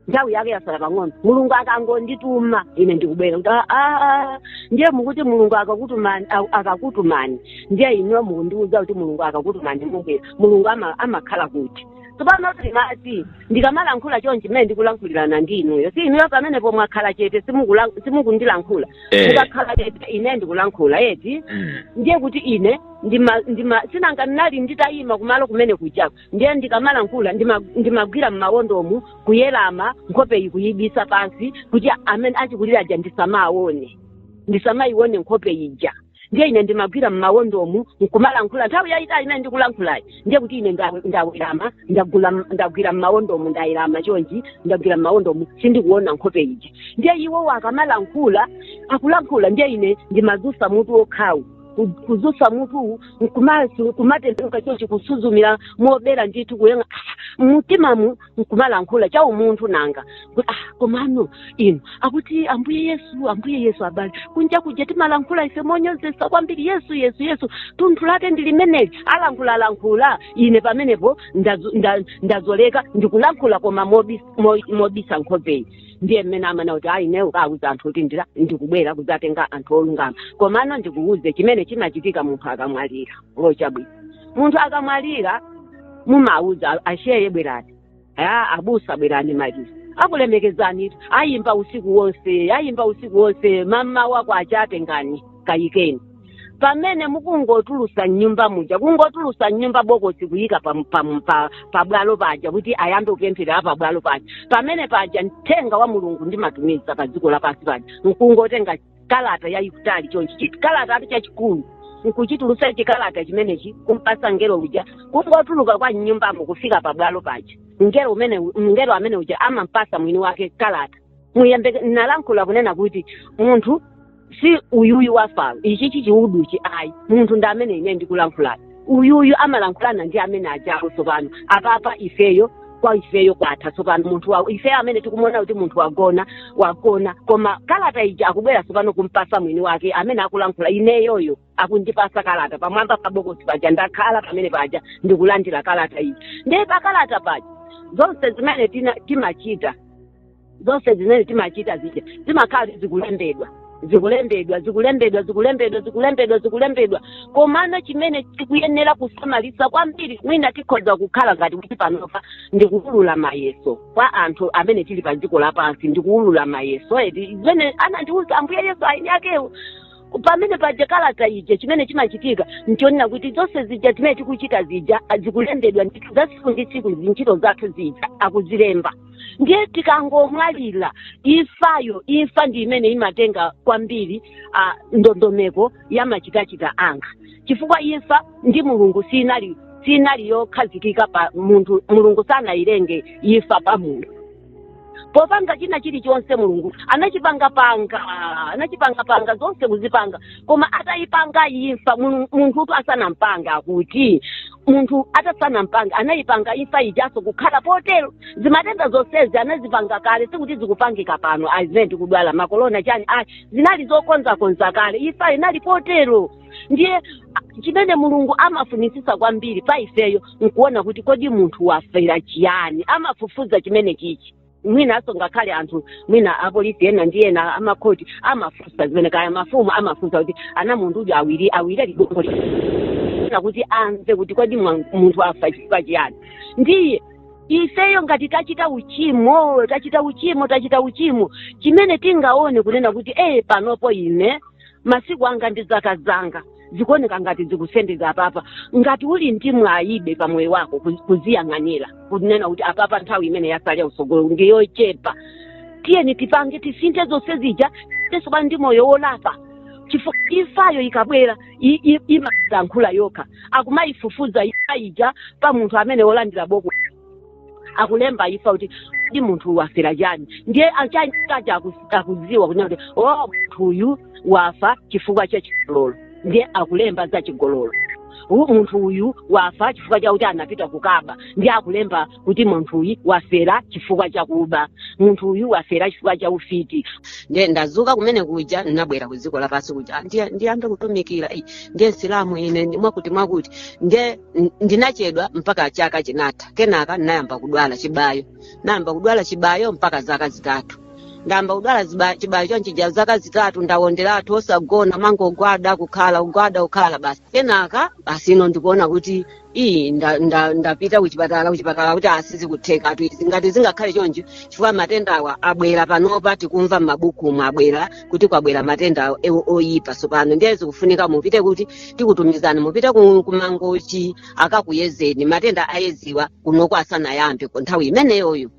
nthawi yake yasala pang'ono mulungu akangondituma ine ndikubwera kuti "Ah, ah, ah." ndiye mukuti mulungu akakutumani a- akakutumani ndiye inuyo mukundiuza kuti mulungu akakutumani mubwera mulungu ama- amakhala kuti tsopano timati ndikamalankhula chonchi mmene ndikulankhulirana ndi inuyo si inuyo pamenepo mwakhala chete simukula- simukundilankhula Eh. mukakhala chete ine ndikulankhula eti Mm. ndiye kuti ine ndima ndima sinanga ndinali nditayima kumalo kumene kujako ndiye ndikamalankhula ndima- ndimagwira m'mawondomu kuwerama nkhopeyi kuyibisa pansi kuti amene achikulira aja ndisamaone ndisamayione nkhope ija ndiye ine ndimagwira m'mawondomu nkumalankhula nthawi yayitali imene ndikulankhulayi ndiye kuti ine nda- ndawerama ndagula- ndagwira m'mawondomu ndawerama chonchi ndagwira m'mawondomu sindikuona nkhope ija ndiye iwowo akamalankhula akulankhula ndiye ine ndimazusa mutu wokhawu ku- kuzutsa mutu nkumasu- kumatembenuka chonchi kusuzumira mobera ndithu kunena ah, mumtimamu nkumalankhula cha umunthu nanga kuti ah, komano inu akuti ambuye yesu ambuye yesu abale kunja kuja timalankhula ife monyozesa kwambiri yesu yesu yesu thunthu lake ndi limeneli alankhula lankhula ine pamenepo ndazo- nda- ndazolika ndikulankhula koma mobis- mo- mobisa nkhopeyi ndiye mmene amanena kuti ayi ineyo ukawuza anthu kuti ndira ndikubwera kudzatenga anthu olungama komano ndikuwuze chimene chimachitika munthu akamwalira oh chabwino munthu akamwalira mumawuza asheye bwerani a abusa bwerani maliro akulemekezani ayimba usiku wonse ayimba usiku wonse mmawa wake akutengani kayikeni pamene mukungotulusa mnyumba muja kungotulusa mnyumba bokosi kuyika pa, pa, pa, pa bwalo paja kuti ayambe kupemphera pa bwalo paja pamene paja mthenga wa mulungu ndimatumiza pa dziko lapansi paja nkungotenga kalata yayikutali chonchi chikalatatu chachikulu nkuchitulusa chikalata chimenechi kumpasa ngelo uja kungotuluka kwa mnyumbamo kufika pa bwalo paja ngelo umene ngelo amene uja amampasa mwini wake kalata muyembe nalankhula kunena kuti munthu si uyuyu wafayo ichi chichiuluchi ayi munthu ndi amene ine ndikulankhulane uyuyu amalankhulana ndi amene ajawo tsopano apapa ifeyo kwa ifeyo kwatha tsopano munthu wa ifeyo amene tikumuona kuti munthu wagona wagona koma kalata ija akubwera tsopano kumpasa mwini wake amene akulankhula ineyoyo akundipasa kalata pamwamba pa bokosi paja ndakhala pamene paja ndikulandira kalata iyi ndiye pa kalata paja zonse zimene tina- timachita zonse zimene timachita zija zimakhala zikulembedwa zikulembedwa zikulembedwa zikulembedwa zikulembedwa zikulembedwa komano chimene tikuyenera kusamalisa kwambiri mwina tikhoza kukhala ngati kuti panopa ndikuulula mayeso kwa anthu amene tili pa dziko lapansi ndikuulula mayeso eti zimene anandiuza ambuye yesu eni akewo pamene paja kalata ija chimene chimachitika nchonena kuti zonse zija zimene tikuchita zija zikulembedwa ndithu za tsiku ndi tsiku zintchito zathu zija akuzilemba ndiye tikangomwalira imfayo imfa ndi imene imatenga kwambiri ah, ndondomeko ya machitachita anga chifukwa imfa ndi mulungu sinali sinali yokhazikika pa munthu mulungu sanayilenge imfa pa munthu popanga china chilichonse mulungu anachipangapanga anachipangapanga zonse kuzipanga koma atayipanga imfa Mulungu- munthutu asanampanga akuti munthu atasanampanga anayipanga imfa ijaso kukhala potero zimatenda zonsezi anazipanga kale sikuti zikupangika pano azimene tikudwala makorona chani ayi zinali zokonzakonza kale imfa inali potero ndiye chimene mulungu amafunisisa kwambiri pa ifeyo nkuona kuti kodi munthu wafera chiyani amafufuza chimenechichi mwinanso ngakhale anthu mwina apolisi ena ndi ena amakhoti amafunsa zimene kaya mafumu amafunsa kuti aone munthu uja awiri awiri ligongo lakuti amve kuti kodi mwa- munthu afa chifukwa chiyani ndiye ifeyo ngati tachita uchimo tachita uchimo tachita uchimo chimene tingaone kunena kuti ee panopo ine masiku anga ndi zaka zanga zikuoneka ngati zikusendeza apapa ngati uli ndi mwayibe pa moyo wako kuzi- kuziyang'anira kunena kuti apapa nthawi imene yasalira usogolo ndi yochepa tiyeni tipange tisinthe zonse zija tetezo pano ndi moyo wolapa chifukwa imfayo ikabwera i- i- imalankhula yokha akumayifufuza imfa ija pa munthu amene wolandira boko akulemba imfa kuti kodi munthuyu wafera chani ndiye achani kacha aku- akudziwa kunena kuti o munthu uyu wafa chifukwa cha chigololo ndiye akulemba za chigololo U- munthu uyu wafa chifukwa chakuti anapita kukaba ndiye akulemba kuti munthu uyu wafera chifukwa chakuba munthu uyu wafera chifukwa cha ufiti ndiye ndazuka kumene kuja ndinabwera ku dziko lapansi kuja ndiyambe kutumikira Ei, ndiye msilamu ine mwakuti mwakuti ndiye N- ndinachedwa mpaka chaka chinatha kenaka ndinayamba kudwala chibayo ndayamba kudwala chibayo mpaka zaka zitatu ndayamba kudwala ziba- chibayo chonchija zaka zitatu ndawonderatu osagona mangogwada kukhala kugwada kukhala basi kenaka basi ine ndikuona kuti iyi nda- nda- ndapita kuchipatala kuchipatala kuti aa sizikuthekatu izi ngati zingakhale choncho chifukwa matendawa abwera panopa tikumva m'mabukumu abwera kuti kwabwera matenda awo oyipa tsopano ndiye zikufunika mupite kuti tikutumizani mupite ku- kumangochi akakuyezeni matenda a Edzi awa kunoko asanayambe nthawi imeneyoyo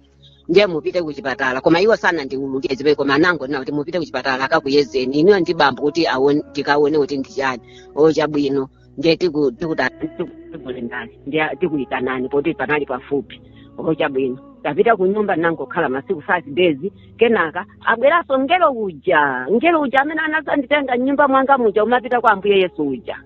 ndiye mupite kuchipatala koma iwo sanandiululire zibe koma anangonena kuti mupite kuchipatala akakuyezeni inuyo ndi bambo kuti aone- tikaone kuti ndi chani o chabwino ndiye tiku- tikuta- tiku- tikulembani ndiye tikuyitanani poti panali pafupi oho chabwino tapita ku nyumba nangokhala masiku five days kenaka abweranso mngelo uja mngelo uja amene anazanditenga mnyumba mwanga muja amene apita kwa ambuye yesu uja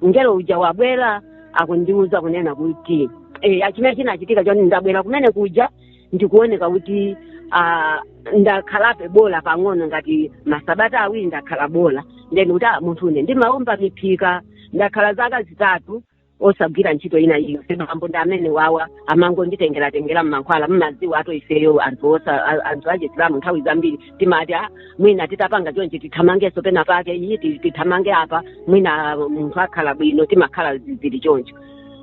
mngelo uja wabwera akundiuza kunena kuti eh, chimene chinachitika choti ndabwera kumene kuja ndikuoneka kuti ah, ndakhalapo bola pang'ono ngati masabata awiri ndakhala bola then kuti ah, munthu une ndimaumba miphika ndakhala zaka zitatu osagwira ntchito ina iliyonse bambo ndi amene awawa amangonditengeratengera mmankhwala mmadziwa eti ifeyo anthu osa a- anthu achisilamu nthawi zambiri timati ah, mwina titapanga chonchi tithamangenso pena pake iyi ti- tithamange apa mwina munthu akhala bwino timakhala zili choncho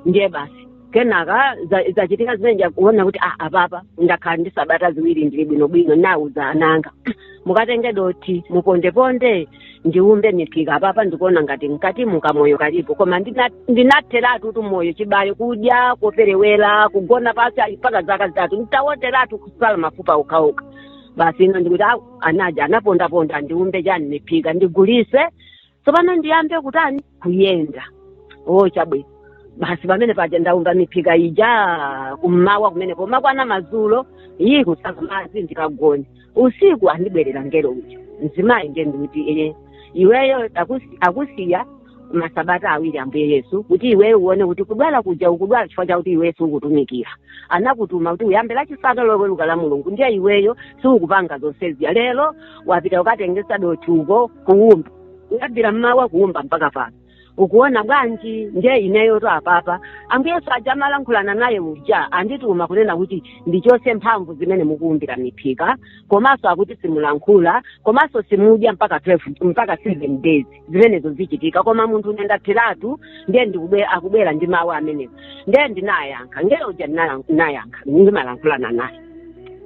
ndiye basi kenaka za- zachitika zimene zija kuona kuti ah, apapa ndakhala ndi sabata ziwiri ndili bwinobwino ndauza ananga mukatenge dothi mupondeponde ndiumbe miphika apapa ndikuona ngati mkatimu kamoyo kalipo koma ndina- ndinatheratu kuti moyo chibayo kudya koperewera kugona pasi ali mpaka zaka zitatu nditawonderatu kusala mafupa okhaokha basi ino ndikuti "Au, anaja anapondaponda ndiumbe chani miphika ndigulise tsopano ndiyambe kutani kuyenda o chabwino basi pamene paja ndaumba miphika ija kummawa kumene pomakwana madzulo iyi kusaka madzi ndikagone usiku andibwerera ngelo uja mzimayi ndiye ndikuti iye iweyo akusi- akusiya masabata awiri ambuye yesu kuti iweyo uone kuti kudwala kuja ukudwala chifukwa chakuti iweyo siukutumikira anakutuma kuti uyambe lachisanu loweruka la mulungu ndiye iweyo siukupanga zonseziya lero wapita ukatengesa dothi uko kuwumba kuyambira mmawa kuwumba mpaka pano ukuona bwanji ndiye ineyotu apapa ambuye yesu aja amalankhulana naye uja andituma kunena kuti ndichose mphamvu zimene mukuumbira miphika komanso akuti simulankhula komanso simudya mpaka 12 mpaka 7 days zimenezo zichitika koma munthune ndapheratu ndiye ndikubwe- akubwera ndi mawu amenewo ndiye ndinayankha ngelo uja ndinala- ndinayankha ndimalankhulana naye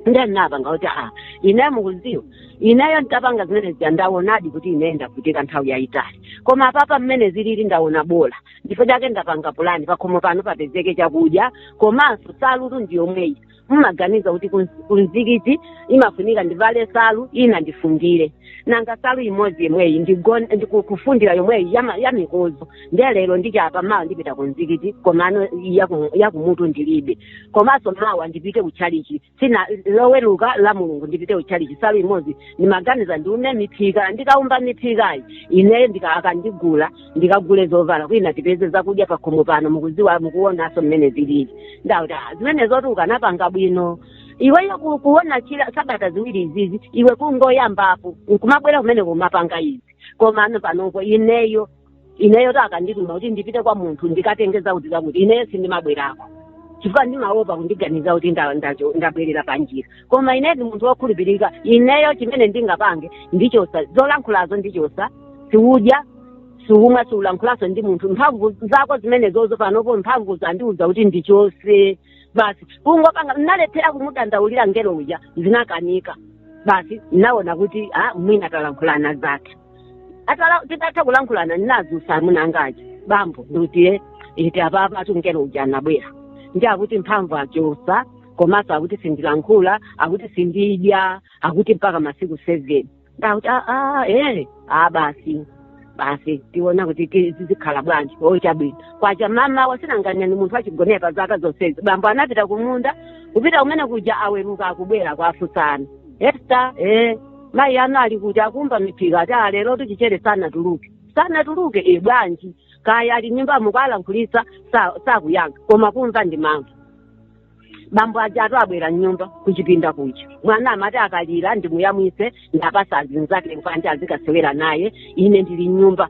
ndiye ndinapanga kuti a ineyo mukuziwa ineyo nditapanga zimene zija ndawonadi kuti ineyo ndavutika nthawi yayitali koma apapa mmene zilili ndawona bola ndipo chake ndapanga pulani pakhomo pano papezeke chakudya komanso salutu ndiyomweyi mumaganiza kuti kunz- kunzikiti imafunika ndivale salu ina ndifundire nanga salu imodzi yomweyi ndigon- ndiku- kufundira yomweyi yama- yamikozo ndiye lero ndichapa mawa ndipita kunzikiti komano yaku- yakumutu ndilibe komanso mawa ndipite kuchalichi sina loweruka la mulungu ndipite kuchalichi salu imodzi ndimaganiza ndiumbe miphika ndikaumba miphikayi ineyo ndi akandigula ndikagule zovala kwina tipeze zakudya pakhomo pano mukuziwa mukuonaso mmene zilili ndakuti "Ah, zimenezotu ukanapanga bwino iweyo ku- kuona chila sabata ziwiri izizi iwe kungoyambapo nkumabwera kumene kumapanga izi koma ano panopo ineyo ineyotu akandituma kuti ndipite kwa munthu ndikatenge zakuti zakuti ineyo sindimabwerako chifukwa ndimaopa kundiganiza kuti nda- ndacho- ndabwerera panjira koma ine ndi munthu wokhulupirika ineyo chimene ndingapange ndichosa zolankhulazo ndichosa siudya siumwa siulankhulanso ndi munthu mphamvu zako zimenezozo panopo mphamvu zandiuza kuti ndichose basi kungopanga nalephera kumudandaulira ngelo uja zinakanika basi naona kuti ah, mwina talankhulana zathu atala titatha kulankhulana ndinadzutsa mnzanga uja bambo ndikuti iti apapatu ngelo uja anabwera ndi akuti mphamvu achosa komanso akuti sindilankhula akuti sindidya akuti mpaka masiku seven ndauti aa ee a basi basi tiona kuti ti- zizikhala bwanji o chabwino kwacha mama wasinanganya ni munthu achigonera pa zaka zonsezi bambo anapita kumunda kupita kumene kuja aweruka akubwera kuwafunsa ana esta ee mayi anu ali kuti akumba miphika ati a lero chichere sanatuluke sanatuluke e bwanji kaya ali nyumbamo kuwalankhulitsa sa- sakuyankha koma kumva ndimamva bambo ajatu abwera mnyumba kuchipinda kuja mwana amati akalira ndimuyamwise ndapasa azinzake kupanja azikasewera naye ine ndili mnyumba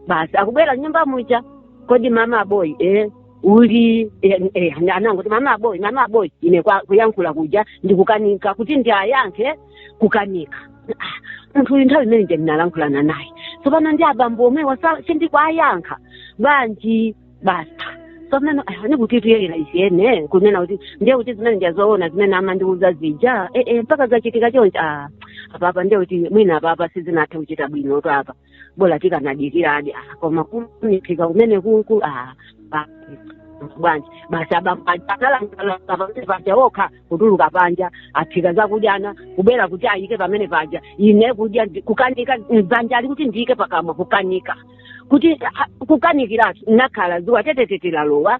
basi akubwera mnyumba muja kodi mama aboyi eh, uli eh, eh, anangoti mama aboyi mama aboyi ine kwa- kuyankhula kuja ndikukanika kuti ndiayankhe kukanika Ah, munthu uyu nthawi imene ndinalankhulana naye tsopano ndi abambo omwewa sindikuwayankha bwanji basi tsopano ni kuti tuyelera ichiyene kunena kuti ndiye kuti zimenezija zoona zimene amandiuza zija eh, eh, mpaka zachitika chonchi ah, apapa ndiye kuti mwina apapa sizinathe kuchita bwinotu apa bola tikanadikira ah, koma kunifika kumene kuku ah, ah, bwanji basi abaaaaapaja okha kutuluka panja aphika zakudya nakubwera kuti ayike pamene paja ine kudya ndi- kukanika mdzanja ali kuti ndiyike pakamwa kukanika kuti ah, kukanikiratu nakhala zuwa tetetete lalowa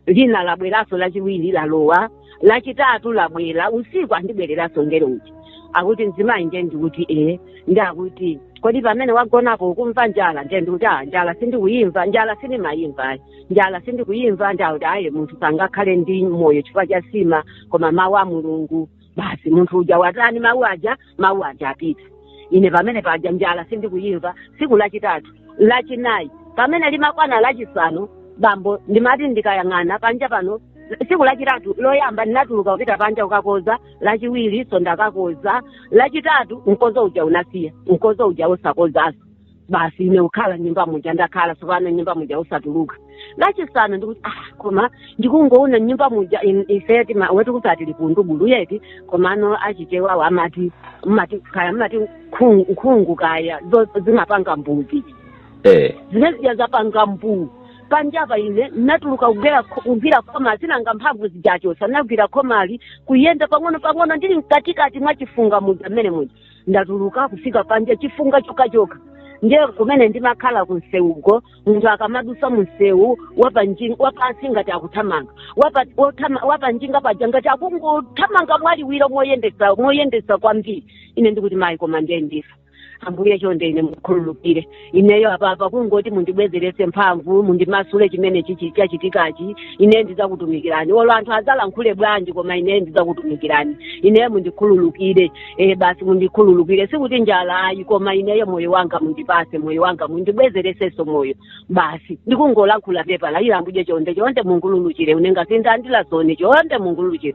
lina labweranso lachiwiri lalowa lachitatu labwera usiku andibwereranso ngelo uja akuti mzimayi nde ndikuti ee ndi akuti kodi pamene wagonapo ukumva njala nde ndikuti a njala sindikuyimva njala sindimayimva ayi njala sindikuyimva ndi akuti ayi munthu sangakhale ndi moyo chifukwa cha sima koma mawu a mulungu basi munthu uja watani mawu aja mawu aja apita ine pamene paja njala sindikuyimva siku lachitatu lachinayi pamene limakwana lachisanu bambo ndimati ndikayang'ana panja pano siku lachitatu loyamba ndinatuluka kupita panja kukakoza lachiwirinso ndakakoza lachitatu mkozo uja unasiya mkozo uja osakozanso basi ine kukhala m'nyumba muja ndakhala tsopano m'nyumba muja osatuluka lachisanu ndikuti ah koma ndikungoona m'nyumba muja in- ife tima- wetu kuti atili kundu bulu yeti komano achichewawo amati mumati kaya mumati nkhungu nkhungu kaya zo- zinapanga mbuu zii eh zimene zija zapanga mbuu panjapa ine natuluka kugwera kugwira khoma chifukwa mphamvu zija achotsa nagwira khomali kuyenda pang'ono pang'ono ndili mkatikati mwa chifunga muja mmene muja ndatuluka kufika panja chifunga chokhachokha ndiye kumene ndimakhala kunsewuko munthu akamadusa munsewu wapanji- wapansi ngati akuthamanga Wapa- wothama- wapanjinga paja ngati akungothamanga mwaliwiro moyendetsa moyendetsa kwambiri ine ndikuti mayi koma ndiye ndifa ambuye chonde ine mukhululukire ineyo apapa kungoti mundibwezeretse mphamvu mundimasule chimenechichi chachitikachi ineyo ndizakutumikirani olo anthu azalankhule bwanji koma ineyo ndizakutumikirani ineyo mundikhululukire e basi mundikhululukire sikuti njala ayi koma ineyo moyo wanga mundipase moyo wanga mundibwezeresenso moyo basi ndikungolankhula pepala ila ambuye chonde chonde mungululukire une ngasindendela soni chonde mungululukire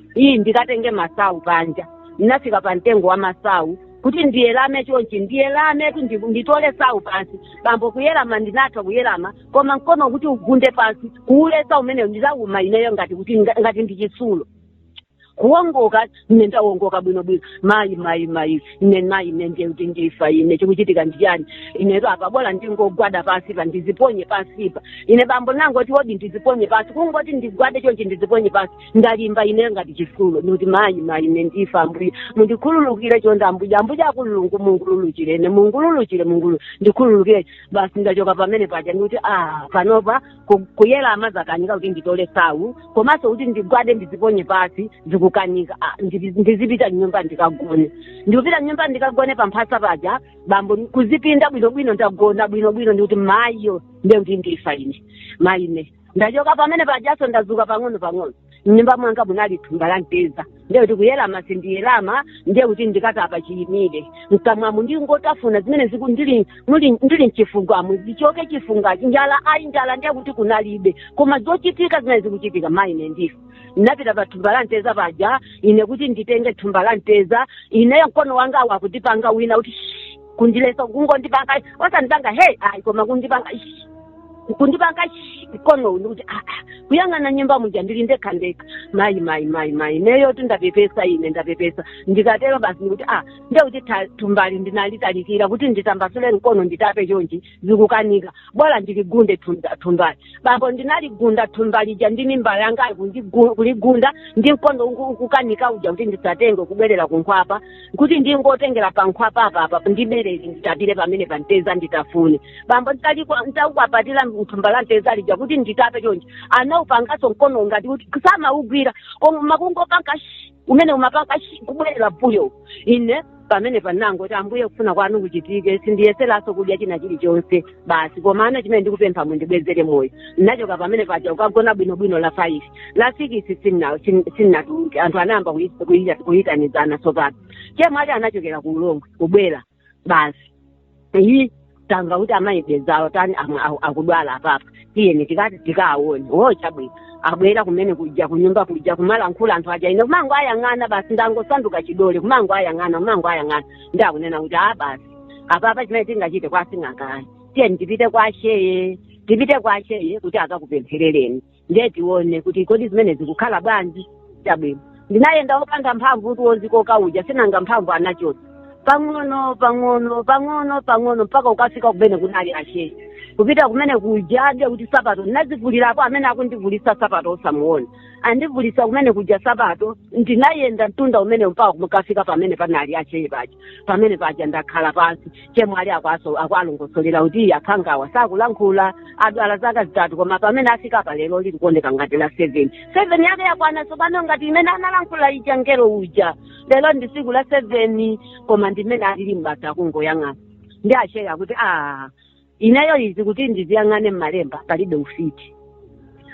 iyi ndikatenge masawu panja ndinafika pa mtengo wa masawu kuti ndiyelame chonchi ndiyelame kuti ndi- nditole sawu pansi bambo kuyelama ndinatha kuyelama koma mkono kuti ugunde pansi kuuletsa mmenemo nditauma ineyo ngati kuti nga- ngati ndi chitsulo kuongoka ine ndaongoka bwino bwino mayi mayi mayi ine mayi ine ndiye kuti ndifa ine chikuchitika ndichani inetu apa bola ndingogwada pansi pa ndiziponye pansipa ine bambo nangoti wodi ndiziponye pansi kungoti ndigwade chonchi ndiziponye pansi ndalimba ine ngati chitsulo ndikuti mayi mayi ine ndifa ambuye mundikhululukire chonde ambuye ambuye akulungwa mungululukire ine mungululukire mungulu ndikhululukire basi ndachoka pamene paja ndikuti ah panopa ku- kuyelama zakanika kuti nditole sawu komanso kuti ndigwade ndiziponye pasi zikukanika Ah, ndizi- ndizipita m'nyumba ndikagone ndikupita m'nyumba ndikagone pamphasa paja bambo kuzipinda bwinobwino ndagona bwinobwino ndikuti mayiyo ndekuti ndifa ine mayi ine ndachoka pamene pajaso ndazuka pang'ono pang'ono mnyumba mwanga munali thumba la mtedza ndiye kuti kuyelama sindiyelama ndiye kuti ndikatape chiyimire mkamwamu ndingotafuna zimene ziku ndili muli- ndili mchifungamu zichoke chifungachi njala ayi njala ndiye kuti kunalibe koma zochitika zimene zikuchitika mayi ine ndifa ndinapita pa thumba la mtedza paja ine kuti nditenge thumba la mtedza ineyo mkono wanga akundipanga wina kuti "Shh, kundiletsa kungondipanga osandipanga hey ayi koma kundipanga ishi kundipanga ishi mkono uwu ndikuti aa kuyang'ana m'nyumba muja ndili ndekha ndekha mayi mayi mayi mayi ineyo kuti ndapepesa ine ndapepesa ndikutero basi ndikuti a ndekuti thumbali ndinalitalikira kuti nditambasule mkono nditape chonchi zikukanika bora ndiligunde thumba- thumbali bambo ndinaligunda thumba lija ndi mimba yanga kundigu- kuligunda ndi mkondo uku- ukukanika uja kuti ndisatenge kubwerera kunkhwapa kuti ndingotengera pa nkhwapa apapa ndiberere nditapire pamene pa mteza nditafune bambo nditalikwa- nditakwapatira mthumba la mteza lija kuti nditape chonje anaupanganso mkono ngati kuti samaugwira koma makungopanga shi umene umapanga shi kubwerera mbuyo ine pamenepa ndinangoti ambuye kufuna kwanu kuchitike sindiyeseranso kudya china chilichonse basi komano chimene ndikupempha mundibwezere moyo ndinachoka pamene paja kukagona bwinobwino la five la sikisi sinna- sin- sinnatuluke anthu anayamba kuyi- kuyi- kuyitanizana tsopano chemwali achi anachokera ku ulongwe kubwera basi iyi tamva kuti amayi bezawo tani amwe aku- akudwala apapa tiyeni tikati tikaawone wo chabwino abwera kumene kuja kunyumba kuja kumalankhula anthu aja ine kumangowayang'ana basi ndangosanduka chidole kumangowayang'ana kumangowayang'ana ndakunena kuti a basi apapa chimene tingachite kwasing'anga ayi tiyeni tipite kwa sheye tipite kwa sheye kuti akakupempherereni ndiye tione kuti kodi zimene zikukhala bwanji chabwino ndinayenda wopanda mphamvu kuti wozikoka uja sinanga mphamvu anachotsa pang'ono pang'ono pang'ono pang'ono mpaka kukafika kumene kunali asheye kupita kumene kuja nde kuti sapato ndinazivulirapo amene akundivulisa sapato osamuona andivulisa kumene kuja sapato ndinayenda mtunda umene mpaka kukafika pamene panali asheye paja pamene paja ndakhala pansi chemwali akuwaso akuwalongosolera kuti akhangawa sakulankhula adwala zaka zitatu koma pamene afika pa lero lili kuoneka ngati la seven seven yake yakwana tsopano ngati imene analankhula ija ngelo uja lero ndi tsiku la seven koma ndimene alili mbata kungoyang'ana ndiye asheye kuti a ineyo izi kuti ndiziyang'ane mmalemba palibe ufiti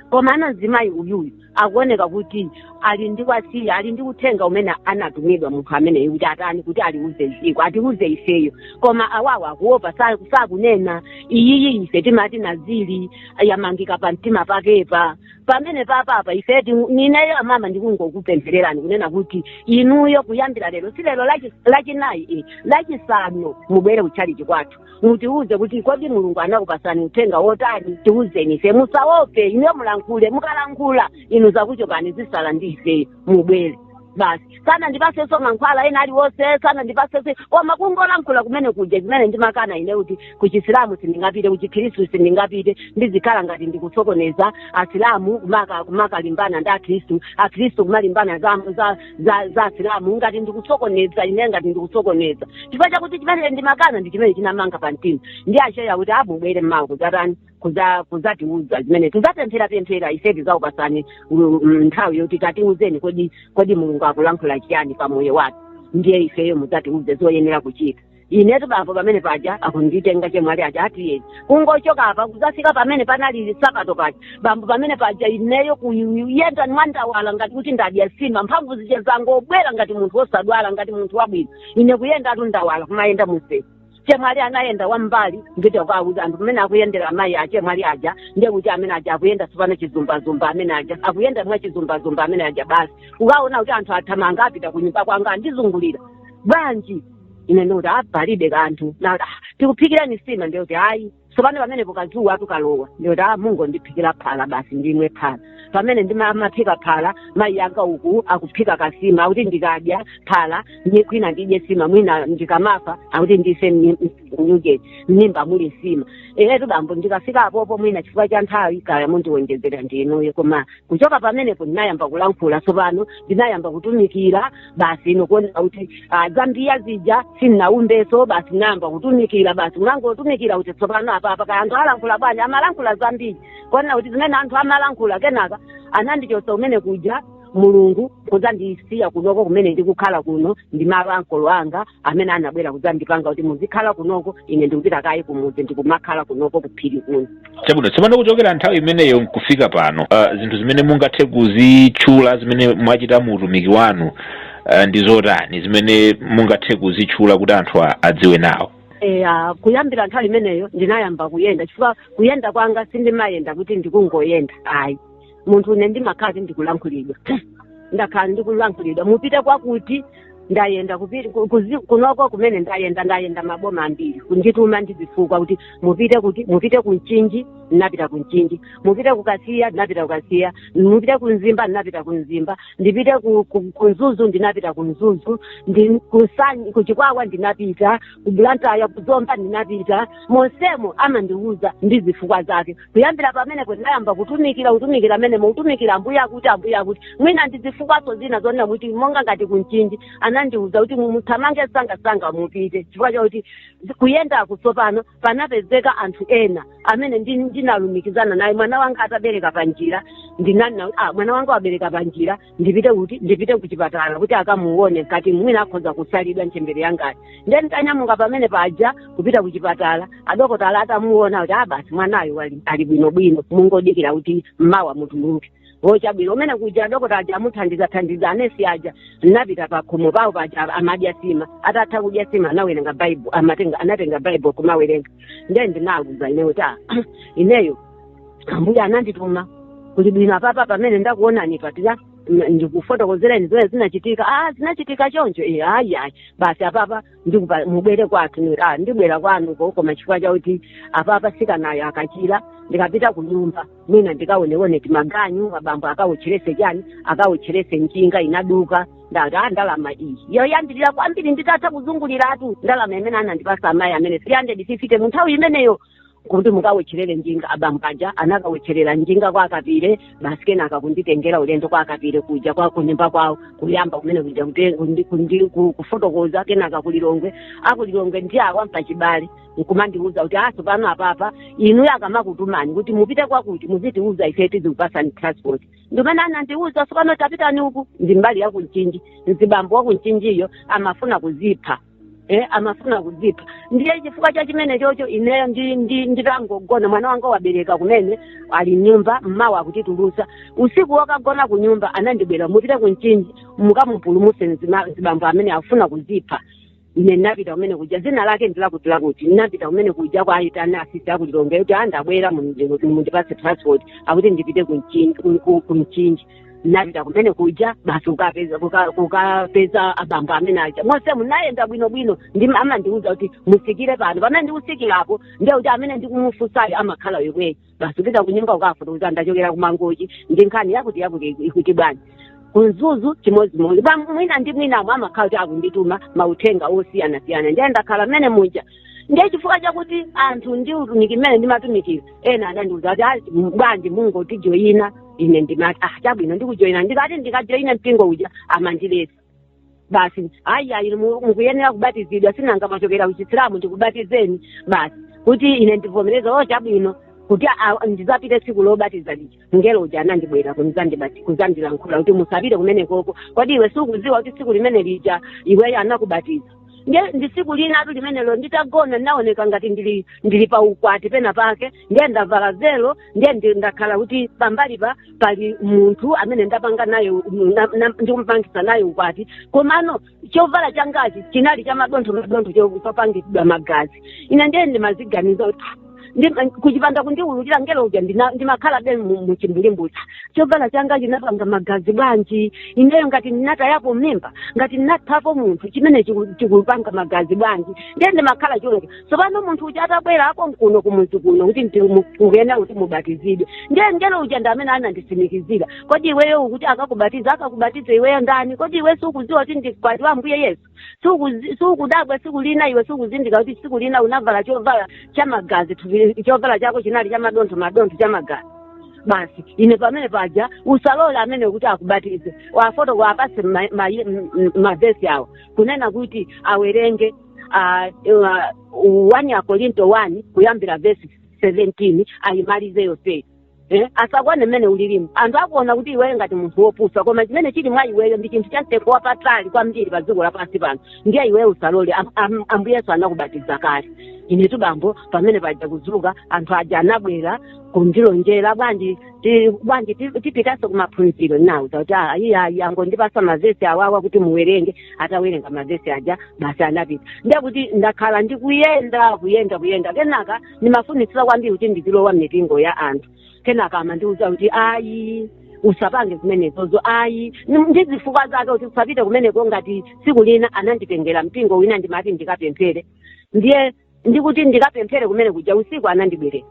komano mzimayi uyuyu akuoneka kuti ali ndi wasiyi ali ndi uthenga umene anatumidwa munthu ameneyo kuti atani kuti aliuze dziko atiuze ifeyo koma awawa akuopa sa- sakunena iyiyi ife timati nazili yamangika pa mtima pakepa pamenepa apapa ife ti- ineyo amama ndikungokupemphererani kunena kuti inuyo kuyambira lero si lero lachi- lachinayi eh, lachisanu mubwere kutchalichi kwathu mutiuze kuti kodi mulungu anakupasani uthenga wotani tiuzeni ife musaope inuyo mulankhule mukalankhula inu zakuchokani zisala ndi ife mubwere basi sanandipasenso mankhwala ena aliwonse sanandipasenso koma kungolankhula kumene kuja zimene ndimakana ine kuti kuchisilamu sindingapite kuchikhristu sindingapite ndizikhala ngati ndikusokoneza asilamu kumaka- kumakalimbana ndi akhristu akhristu kumalimbana za, za za za asilamu ngati ndikusokoneza ine ngati ndikusokoneza chifukwa chakuti chimene ndimakana ndi chimene chinamanga pa mtima ndiye asheye kuti a mubwere mmawa kudzatani kuza kuzatiuza zimene tizapemphera pemphera ife tizakupasani mm, mm, nthawi yoti tatiuzeni kodi kodi mulungu akulankhula chiyani pa moyo wathu ndiye ifeyo mudzatiuze zoyenera kuchita inetu bambo pamene paja akunditenga chemwali aja atiyeni kungochoka apa kuzafika pamene panali sapato paja bambo pamene paja ineyo kuyenda mwandawala ngati kuti ndadya sima mphamvu zije zangobwera ngati munthu wosadwala ngati munthu wabwino ine kuyendatu ndawala kumayenda mumseu chemwali anayenda wambali nkuchita kuwauza anthu pamene akuyendera amayi a chemwali aja ndiye kuti amene aja akuyenda tsopano chizumbazumba amene aja akuyenda mwa chizumbazumba amene aja basi ukaona kuti anthu athamanga apita kunyumba kwanga andizungulira bwanji ine ndikuti a palibe kanthu ati "Ah, tikuphikirani sima ndikuti ayi tsopano pamenepo kadzuwa tikalowa ndikuti a mungu ndiphikira phala basi ndimwe phala pamene ndimaphika phala mayi anga uku akuphika kasima akuti ndikadya phala mwina ndidye sima mwina ndikamafa akuti ndife muja m'mimba muli sima inetu bambo ndikafika apopo mwina chifukwa cha nthawi kaya mundiwonjezera ndinuyo koma kuchoka pamenepo ndinayamba kulankhula tsopano ndinayamba kutumikira basi nkuonanso kuti ah, zoumbiya zija sindinaumbenso basi nayamba kutumikira basi ndinangotumikira kuti tsopano apapa kaya anthu alankhula bwanji amalankhula zambiri kuonena kuti zimene anthu amalankhula kenaka anandichosa kumene kuja mulungu kudzandisiya kunoko kumene ndikukhala kuno ndi malo a ankolo anga amene anabwera kudzandipanga kuti muzikhala kunoko ine ndikupita kaye kumudzi ndikumakhala kunoko kuphiri kuno chabwino tsopano kuchokera nthawi imeneyo nkufika pano uh, zinthu zimene mungathe kuzitchula zimene mwachita mu utumiki wanu uh, ndi zotani zimene mungathe kuzitchula kuti anthu a- adziwe nawo eya kuyambira nthawi imeneyo ndinayamba kuyenda chifukwa kuyenda kwanga sindimayenda kuti ndikungoyenda ayi munthune ndimakhala kuti ndikulankhulidwa ndakhala ndikulankhulidwa mupite kwakuti ndayenda kupita ku- kuzi- kunoko kumene ndayenda ndayenda maboma ambiri kundituma ndi zifukwa kuti mupite kuti mupite ku mchinji ndinapita ku mchinji mupite ku kasiya ndinapita ku kasiya mupite ku mzimba ndinapita ku mzimba ndipite ku, ku, ku mzuzu ndinapita ku mzuzu ndi ku nsanje ku chikwawa ndinapita ku blantyre ku zomba ndinapita monsemo amandiwuza ndi zifukwa zake kuyambira pamenepo ndinayamba kutumikira kutumikira mmenemo kutumikira ambuye akuti ambuye akuti mwina ndi zifukwaso zina zonena kuti monga ngati ku mchinji anandiwuza kuti muthamange sangasanga mupite chifukwa chakuti zi- kuyendaku tsopano panapezeka anthu ena amene ndi- ndinalumikizana naye mwana wanga atabereka panjira ndinanena kuti ah mwana wanga wabereka panjira ndipite kuti ndipite kuchipatala kuti akamuone ngati mwina akhoza kusalidwa ntchembere yangayo ndiye nditanyamuka pamene paja kupita kuchipatala adokotala atamuona kuti a basi mwanayo wali- ali bwinobwino mungodikira kuti mmawa mutuluke o chabwino kumene kuja adokota aja atamuthandiza thandiza anesi aja napita pakhomo pawo paja amadya sima atatha kudya sima anawerenga baibulo amatenga anatenga baibulo kumawerenga ndiye ndinawuza ineyo kuti "Ah, ineyo ambuye anandituma Kuli bwino apapa pamene ndakuonani patira ndikufotokozereni zimene zinachitika ah zinachitika choncho e ayi ayi basi apapa ndikupa mubwere kwathu Ni- ah ndibwera kwanuko koma chifukwa chakuti apapa sikanayo akachira ndikapita ku nyumba mwina ndikaonewone timaganyu abambo akawotcherese chani akawotcherese njinga inaduka ndati ah ndalama iyi yoyambirira kwambiri nditatha kuzunguliratu ndalama imene anandipasa amayi amene 350 mu nthawi imeneyo kuti mukawotcherere njinga abambaja anakawotcherera njinga kwa akapire basi kenaka kunditengera ulendo kwa akapire kuja kwa kunyumba kwawo kuyamba kumene kuja kute- kundi- kundi- ku- kufotokoza kenaka kulilongwe akulilongwe ndi awa mpachibale nkumandiuza kuti sopano apapa inuyo akamakutumani kuti mupite kwakuti muzitiuza ife tizikupasani transport ndimene anandiuza sopano tapitani uku ndi mbali yaku mchinji mzibambo waku mchinjiyo amafuna kuzipha eh, amafuna kudzipha ndiye chifukwa cha chimenechocho ineyo ndi, ndi, nditangogona mwana wanga wabereka kumene ali mnyumba mmawa akutitulusa usiku wokagona ku nyumba anandibwera mupite ku mchinji mukamupulumuse mzima- mzibambo amene afuna kuzipha ine ndinapita kumene kuja zina lake ndilakuti lakuti ndinapita kumene kuja kwa ayitana asisi aku lilongwe kuti andabwera mundipase transport akuti ndipite ku mchinji ku- ku- ku mchinji napita kumene kuja basi kukapeza kuka- kukapeza abambo amene aja mose munayenda bwino bwino ndi amandiuza kuti mutsikire pano pamene ndikutsikirapo ndiye kuti amene ndikumufunsayo amakhala yemweyo basi upita kunyumba ukafotokoza ndachokera kumangochi ndi nkhani yakuti yakuti ikuti bwanji kumzuzu chimodzimodzi pa mwina ndi mwinamo amakhala kuti akundituma mauthenga osiyanasiyana ndiye ndakhala mmene muja ndiye chifukwa chakuti anthu ndi utumiki mmene ndimatumikira ena adandiuza kuti "Ah, bwanji mungotijoyina ine ndimati ah chabwino ndikujoyina ndikati ndikajoyine mpingo uja amandiletsa basi ayi ayi mu- mukuyenera kubatizidwa sinanga mwachokera kuchisilamu ndikubatizeni basi kuti ine ndivomereza o chabwino kuti a- a- ndizapite tsiku lobatiza lija mngelo uja anandibwera kunzandibati- kuzandilankhula kuti musapite kumenekoko kodi iwe sukuziwa kuti tsiku limene lija iweyo anakubatiza nde ndi tsiku linatu limenelo nditagona ndinaoneka ngati ndili ndili pa ukwati pena pake ndiye ndavala velo ndiye ndi- ndakhala kuti pambalipa pali munthu amene ndapanga naye u- na- na- ndikupangisa naye ukwati komano chovala changachi chinali cha madontho madontho cho- chopangidwa magazi ine ndiye ndimaziganiza kuti "Ah, ndi- kuchipanda kundiululira mngelo uja ndina- ndimakhalabe mu- muchimbulimbuli chovala changachi chinapanga magazi bwanji ineyo ngati ndinatayapo mimba ngati ndinaphapo munthu chimene chiku- chikupanga magazi bwanji ndiye ndimakhala choncho tsopano munthu uja atabwera akonkuno kumudzi kuno kuti ndi- mu- mukuyenera kuti mubatizidwe ndiye mngelo uja ndi amene ananditsimikizira kodi iweyo ukuti akakubatiza akakubatiza iweyo ndani kodi iwe sukudziwa kuti ndi mkwati wa ambuye yesu sukudzi- sukudabwa tsiku lina iwe sukuzindikira kuti tsiku lina unavala chovala cha magazi thupi- chovala chako chinali cha madontho madontho cha magazi basi ine pamene paja usalole amene kuti akubatize wafotoko apase mavesi awo kunena kuti awerenge ah, ah, 1 akorinto 1 kuyambira vesi 17 ayimalize yonseyo Eh, asakuone mmene ulirimu anthu akuona kuti iweyo ngati munthu wopusa koma chimene chili mwa iweyo ndi chinthu chamtengo wapatali kwambiri pa dziko lapansi pano ndiye iweyo usalole Am- am- ambuye yesu anakubatiza kale inetu bambo pamene paja kudzuka anthu aja anabwera kundilonjera bwanji ti- bwanji ti- tipitanso kumaphunziro nauza kuti "Ah, ine ayi angondipatsa mavesi awawa kuti muwerenge atawerenga mavesi aja basi anapita ndiye kuti ndakhala ndikuyenda kuyenda kuyenda kenaka ndimafunitsitsa kwambiri kuti ndizilowa m'mipingo ya anthu kenaka amandiuza kuti ayi usapange zimenezozo ayi Ni- ndi zifukwa zake kuti usapite kumeneko ngati tsiku lina ananditengera mpingo wina ndimati ndikapemphere ndiye ndi kuti ndikapemphere kumene kuja usiku anandibwerera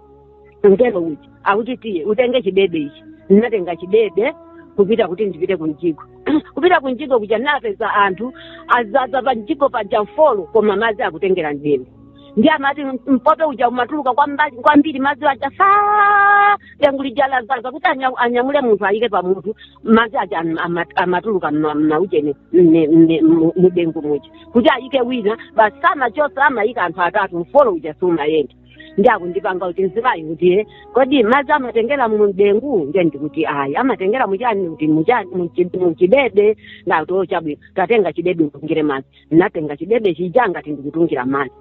mngelo uja akuti tiye utenge chidebe ichi ndinatenga chidebe kupita kuti ndipite kumjigo kupita kumjigo kuja ndinapeza anthu azaza pa mjigo paja mfolo koma madzi akutengera mdengu ndiye amati mpope uja umatuluka kwamba- kwambiri madzi aja faa dengu lija lazaza kuti anya- anyamule munthu ayike pamutu madzi aja am- ama- amatuluka mma- mmaujeni mne- mne- mu- mudengu muja kuti ayike wina basi samachosa amayika anthu atatu mfolo uja sumayenda ndiye akundipanga kuti mzimayi kuti "Eh, kodi madzi amatengera mu dengu ndiye ndikuti ayi amatengera muchani kuti muchani muchi- muchidebe ndati o chabwino tatenga chidebe utungire madzi ndinatenga chidebe chija ngati ndikutungira madzi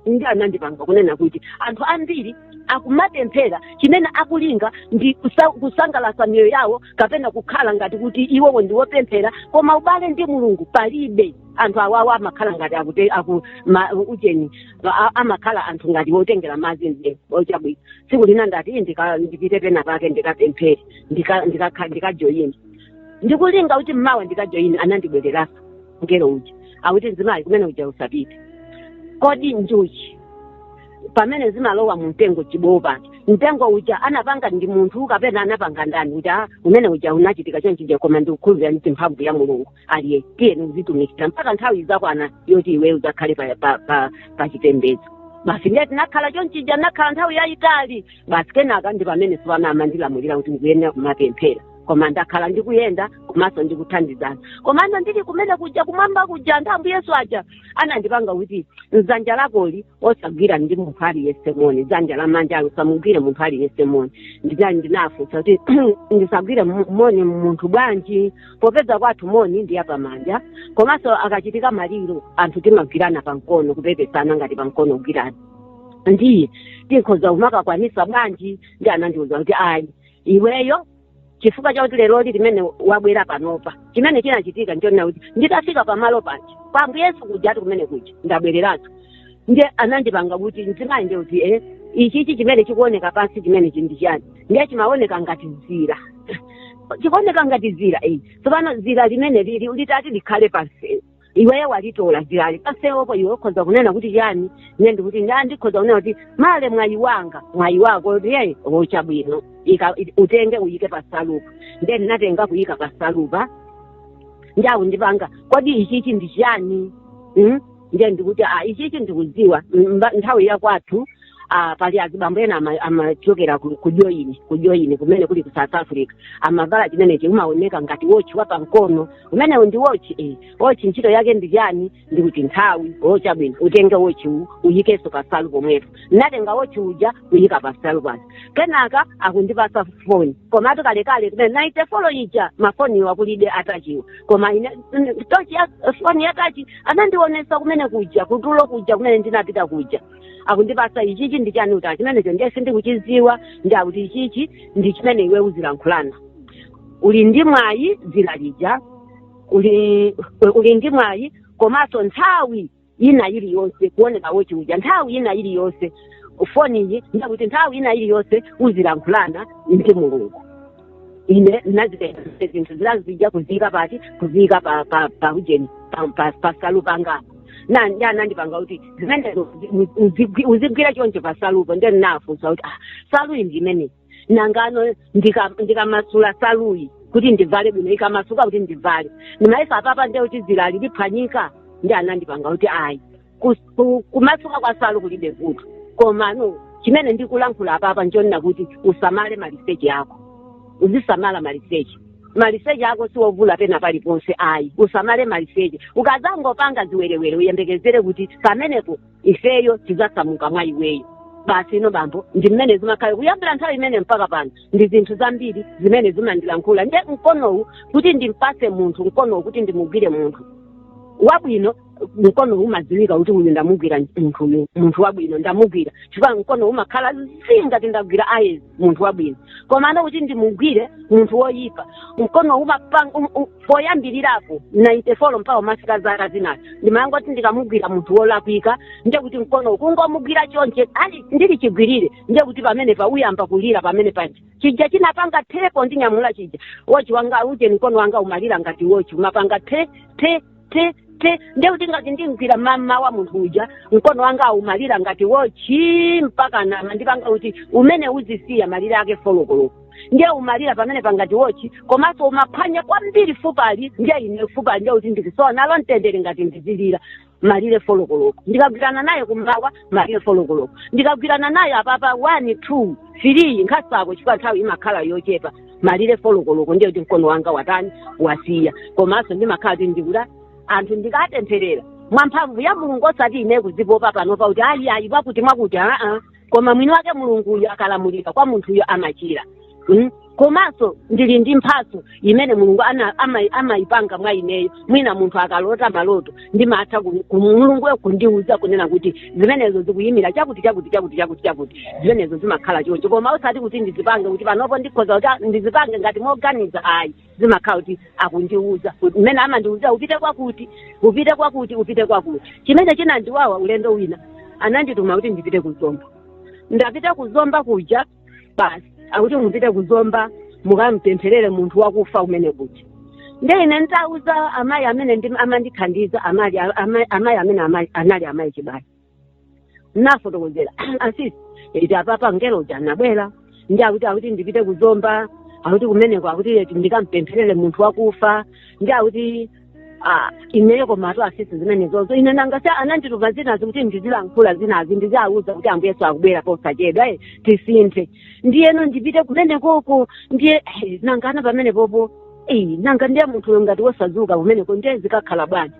ndiye anandipanga kunena kuti anthu ambiri akumapemphera chimene akulinga ndi kusa- kusangalatsa miyoyo yawo kapena kukhala ngati kuti iwowo ndi wopemphera koma ubale ndi mulungu palibe anthu awawa amakhala ngati akute aku ma, ujeni a- amakhala anthu ngati wotengera madzi mde- o chabwino tsiku lina ndati "Ii, ndika- ndipite pena pake ndikapemphere ndikajoyini ndika, ndika ndikulinga kuti mmawa ndikajoyini anandibwereranso mngelo uja akuti mzimayi kumene uja usapite kodi njuchi pamene zimalowa mu mtengo chibowo pa mtengo uja anapanga ndi munthu kapena anapanga ndani kuti ah, umene uja unachitika chonchija koma ndikukhulupirira ndi mphamvu ya mulungu ndiye tiyeni uzitumikira mpaka nthawi izakwana yoti iwe uzakhale pa, pa, pa, pa chipembedzo basi ndiye tinakhala chonchija nakhala nthawi yayitali basi kenaka ndi pamene tsopano amandilamulira kuti ndikuyenera kumapemphera koma ndakhala ndikuyenda komanso ndikuthandizana komano ndili kumene kuja kumwamba kuja anthu ambuye yesu aja anandipanga kuti dzanja lakoli osagwiranso munthu aliyense moni dzanja lamanjali usamugwire munthu aliyense moni ndiye ndinafunsa kuti ndisagwire mu- moni munthu bwanji popeza kwathu moni ndi yapamanja komanso akachitika maliro anthu timagwirana pamkono kupepesana ngati pamkono kugwirana ndiye tikhoza kumakakwanisa bwanji ndiye anandiuza kuti ayi iweyo chifukwa chakuti leroli mmene wabwera panopa chimene chinachitika ndichonena kuti nditafika pamalo panja pa ambuye yesu kujatu kumene kuja ndabwereratu ndiye anandipanga kuti mzimayi nde akuti e ichichi chimene chikuoneka pansi chimenechi ndi chani ndiye chimaoneka ngati zira chikuoneka ngati zira eyi tsopano zira limene lili litati likhale pamsewu iweyo walitola zirali pamsewupo iwe ukhoza kunena kuti chani ine ndikuti nda ndikhoza kunena kuti male mwayi wanga mwayi wako eti ndiye chabwino Ika- i- utenge uyike pasalu apa nde ndinatenga kuyika pasalu apa nde akundipanga kodi ichichi ndi chani Mm? nde ndikuti a ichichi ndikudziwa Mm, mba- nthawi yakwathu ah, pali azibambo ena ama- amachokera ku- ku joini ku joini kumene kuli ku south africa amavala chimenechi umaoneka ngati wochi wa pamkono umenewu ndi wochi eh. wochi ntchito yake ndi chani ndikuti nthawi o chabwino utenge wochi uwu uyikenso pasalu pomwepo ndatenga wochi uja kuyika pasalu pano kenaka akundipasa foni komatu kalekale kumene nainte folo ija mafoniwo akulibe a touch-wa koma ine mm, tochi ya foni ya touch anandionesa kumene kuja kutulo kuja kumene ndinapita kuja akundipasa ichichi ndi chani ndikuti chimenecho ndiye sindikuchiziwa nde akuti ichichi ndi chimene iwe uzilankhulana uli ndi mwayi zira lija uli uli ndi mwayi komanso nthawi ina iliyonse kuoneka wochi uja nthawi ina iliyonse foniyi ndiye kuti nthawi ina iliyonse uzilankhulana ndi mulungu ine ndinazitenga zonse zinthu zinazi kuziyika pati kuziyika pa pa pa ujeni pa- pa- pasalu pangapo nde anandipanga kuti zimenezo uzi- uzigwi- uzigwira choncho pasalupo ndiye ndinafunsa kuti ah saluyi ndi imeneyi nangano ndika- ndikamasula saluyi kuti ndivale bwino ikamasuka kuti ndivale ndimayesa apapa ndiye kuti zirali liphwanyika nde anandipanga kuti ayi Kus- ku- kumasuka kwa salu kulibe vuto komano chimene ndikulankhula apapa nchonena kuti usamale maliseche ako uzisamala maliseche maliseche ako siwovula pena paliponse ayi usamale maliseche ukadzangopanga ziwerewere uyembekezere kuti pamenepo ifeyo tidzasamuka mwa iweyo basi inu bambo ndi mmene zimakhala kuyambira nthawi imene mpaka pano ndi zinthu zambiri zimene amandilankhula nde mkonowu kuti ndimpase munthu mkonowu kuti ndimugwire munthu wabwino mkono umadziwika kuti uyu ndamugwira munthu uyu munthu wabwino ndamugwira chifukwa mkono umakhala zii ngati ndagwira ayezi munthu wabwino komano kuti ndimugwire munthu woyipa mkono umapanga um, um, poyambirirapo 94 mpaka umafika zaka zinazo ndimayangoti ndikamugwira munthu wolakwika ndiye kuti mkono kungomugwira chonchi ali ndili chigwirire ndiye kuti pamenepa uyamba kulira pamene paja chija chinapanga thepo ndinyamula chija wochi wanga uje mkono wanga umalira ngati wochi umapanga ti ti ti ti ndiye kuti ngati ndimgwira mammawa munthu uja mkono wangawu umalira ngati wochi mpaka anandipanga kuti umene uzisiya malire ake folokoloko ndiye umalira pamenepa ngati wochi komanso umaphwanya kwambiri fupali ndiye ine fupali ndiye kuti ndikusowa nalo mtendere ngati ndizilira malire folokoloko ndikagwirana naye kummawa malire folokoloko ndikagwirana naye apapa one two three nkhasako chifukwa nthawi imakhala yochepa malire folokoloko ndiye kuti mkono wanga watani wasiya komanso ndimakhala kuti ndikuti anthu ndikapempherera mwa mphamvu ya mulungu osati ine kuzipopa panopa kuti ayi ayi wakuti mwakuti aa koma mwini wake mulunguyo akalamulira kwa munthuyo amachira mm? komanso ndili ndi mphatso imene mulungu ana- ama- amayipanga mwa ineyo mwina munthu akalota maloto ndimatha ku- ku- mulunguyo kundiuza kunena kuti zimenezo zikuyimira chakuti chakuti chakuti chakuti chakuti zimenezo zimakhala choncho koma osati kuti ndizipange kuti panopo ndikhoza kuti ah, ndizipange ngati moganiza ayi zimakhala kuti akundiuza mmene amandiuza upite kwakuti upite kwakuti upite kwakuti chimene chinandiwawa ulendo wina anandituma kuti ndipite ku zomba ndapita ku zomba kuja basi akuti mupite ku zomba mukampempherere munthu wakufa kumene kuja nde ine nditawauza amayi amene ndi- amandithandiza amali- ama- amayi amene amali- anali amayi chibali nafotokozera asisi eti apapa mngelo uja anabwera ndi akuti akuti ndipite ku zomba akuti kumeneko akuti eti ndikampempherere munthu wakufa ndi akuti Ah, ineyo komatu asisi zimenezozo ine nanga si anandituma zinazi kuti ndizilankhula zinazi ndiziauza kuti ambuye yesu akubwera posachedwa eh, tisinthe ndiyeno ndipite kumenekoko ndiye eh, nangano pamenepopo eh, nanga ndiye munthuyo ngati wosazuka kumeneko ndiye zikakhala bwanji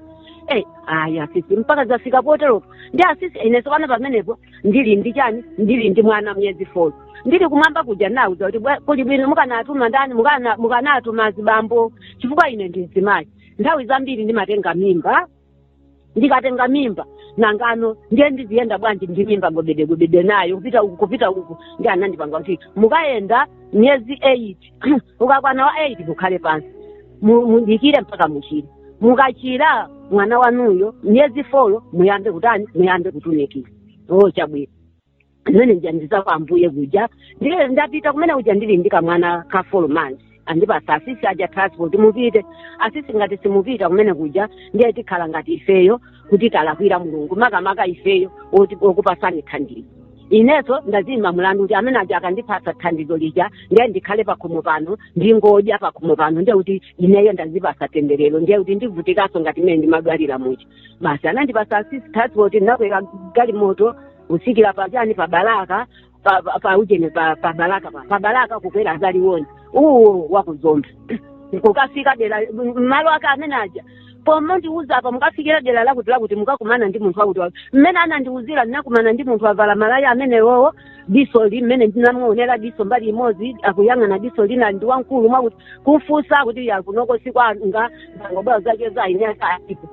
eh, ayi asisi mpaka zafika potero ndiye asisi ine sopano pamenepo ndili ndi chani ndili ndi mwana miyezi four ndili kumwamba kuja nawauza kuti bwa- kuli bwino mukanatuma ndani mukana- mukanatuma azibambo chifukwa ine ndi mzimayi nthawi zambiri ndimatenga mimba ndikatenga mimba nangano ndiye ndiziyenda bwanji ndi mimba gobedegobede nayo kupita uku kupita uku ndiye anandipanga kuti mukayenda miyezi eight ukakwana wa 8 mukhale pansi Mu- mudikire mpaka muchire mukachira mwana wanuyo miyezi folo muyambe kutani muyambe kutumikira o chabwino zimene anandiuza kwa ambuye kuja ndiye ndapita kumene kuja ndili ndi kamwana ka folo manzi andipasa asisi aja transport mupite asisi ngati simupita kumene kuja ndiye tikhala ngati ifeyo kuti talakwira mulungu makamaka ifeyo oti- okupasani thandizo inenso ndaziyimba mlandu kuti amene aja akandipasa thandizo lija ndiye ndikhale pakhomo pano ndingodya pakhomo pano ndiye kuti ineyo ndazipasa temberero ndiye kuti ndivutikanso ngati mmene ndimadwalira muja basi anandipasa asisi transport ndinakwera galimoto kusikira pachani pa balaka pa- pa- pa ujeni pa pa balaka pa pa balaka kukwera za liwonde uwu waku zomba kukafika dera malo ake amene aja pomandiuza apa mukafikira dera lakuti lakuti mukakumana ndi munthu wakuti wakuti mmene anandiuzira ndinakumana ndi munthu wavala malaya amenewowo diso li mmene ndinamuonera diso mbali imodzi akuyang'ana diso lina ndi wamkulu mwakuti kumfunsa kuti ayi kunoko sikwanga ndangobwera kuzacheza aini ake alipo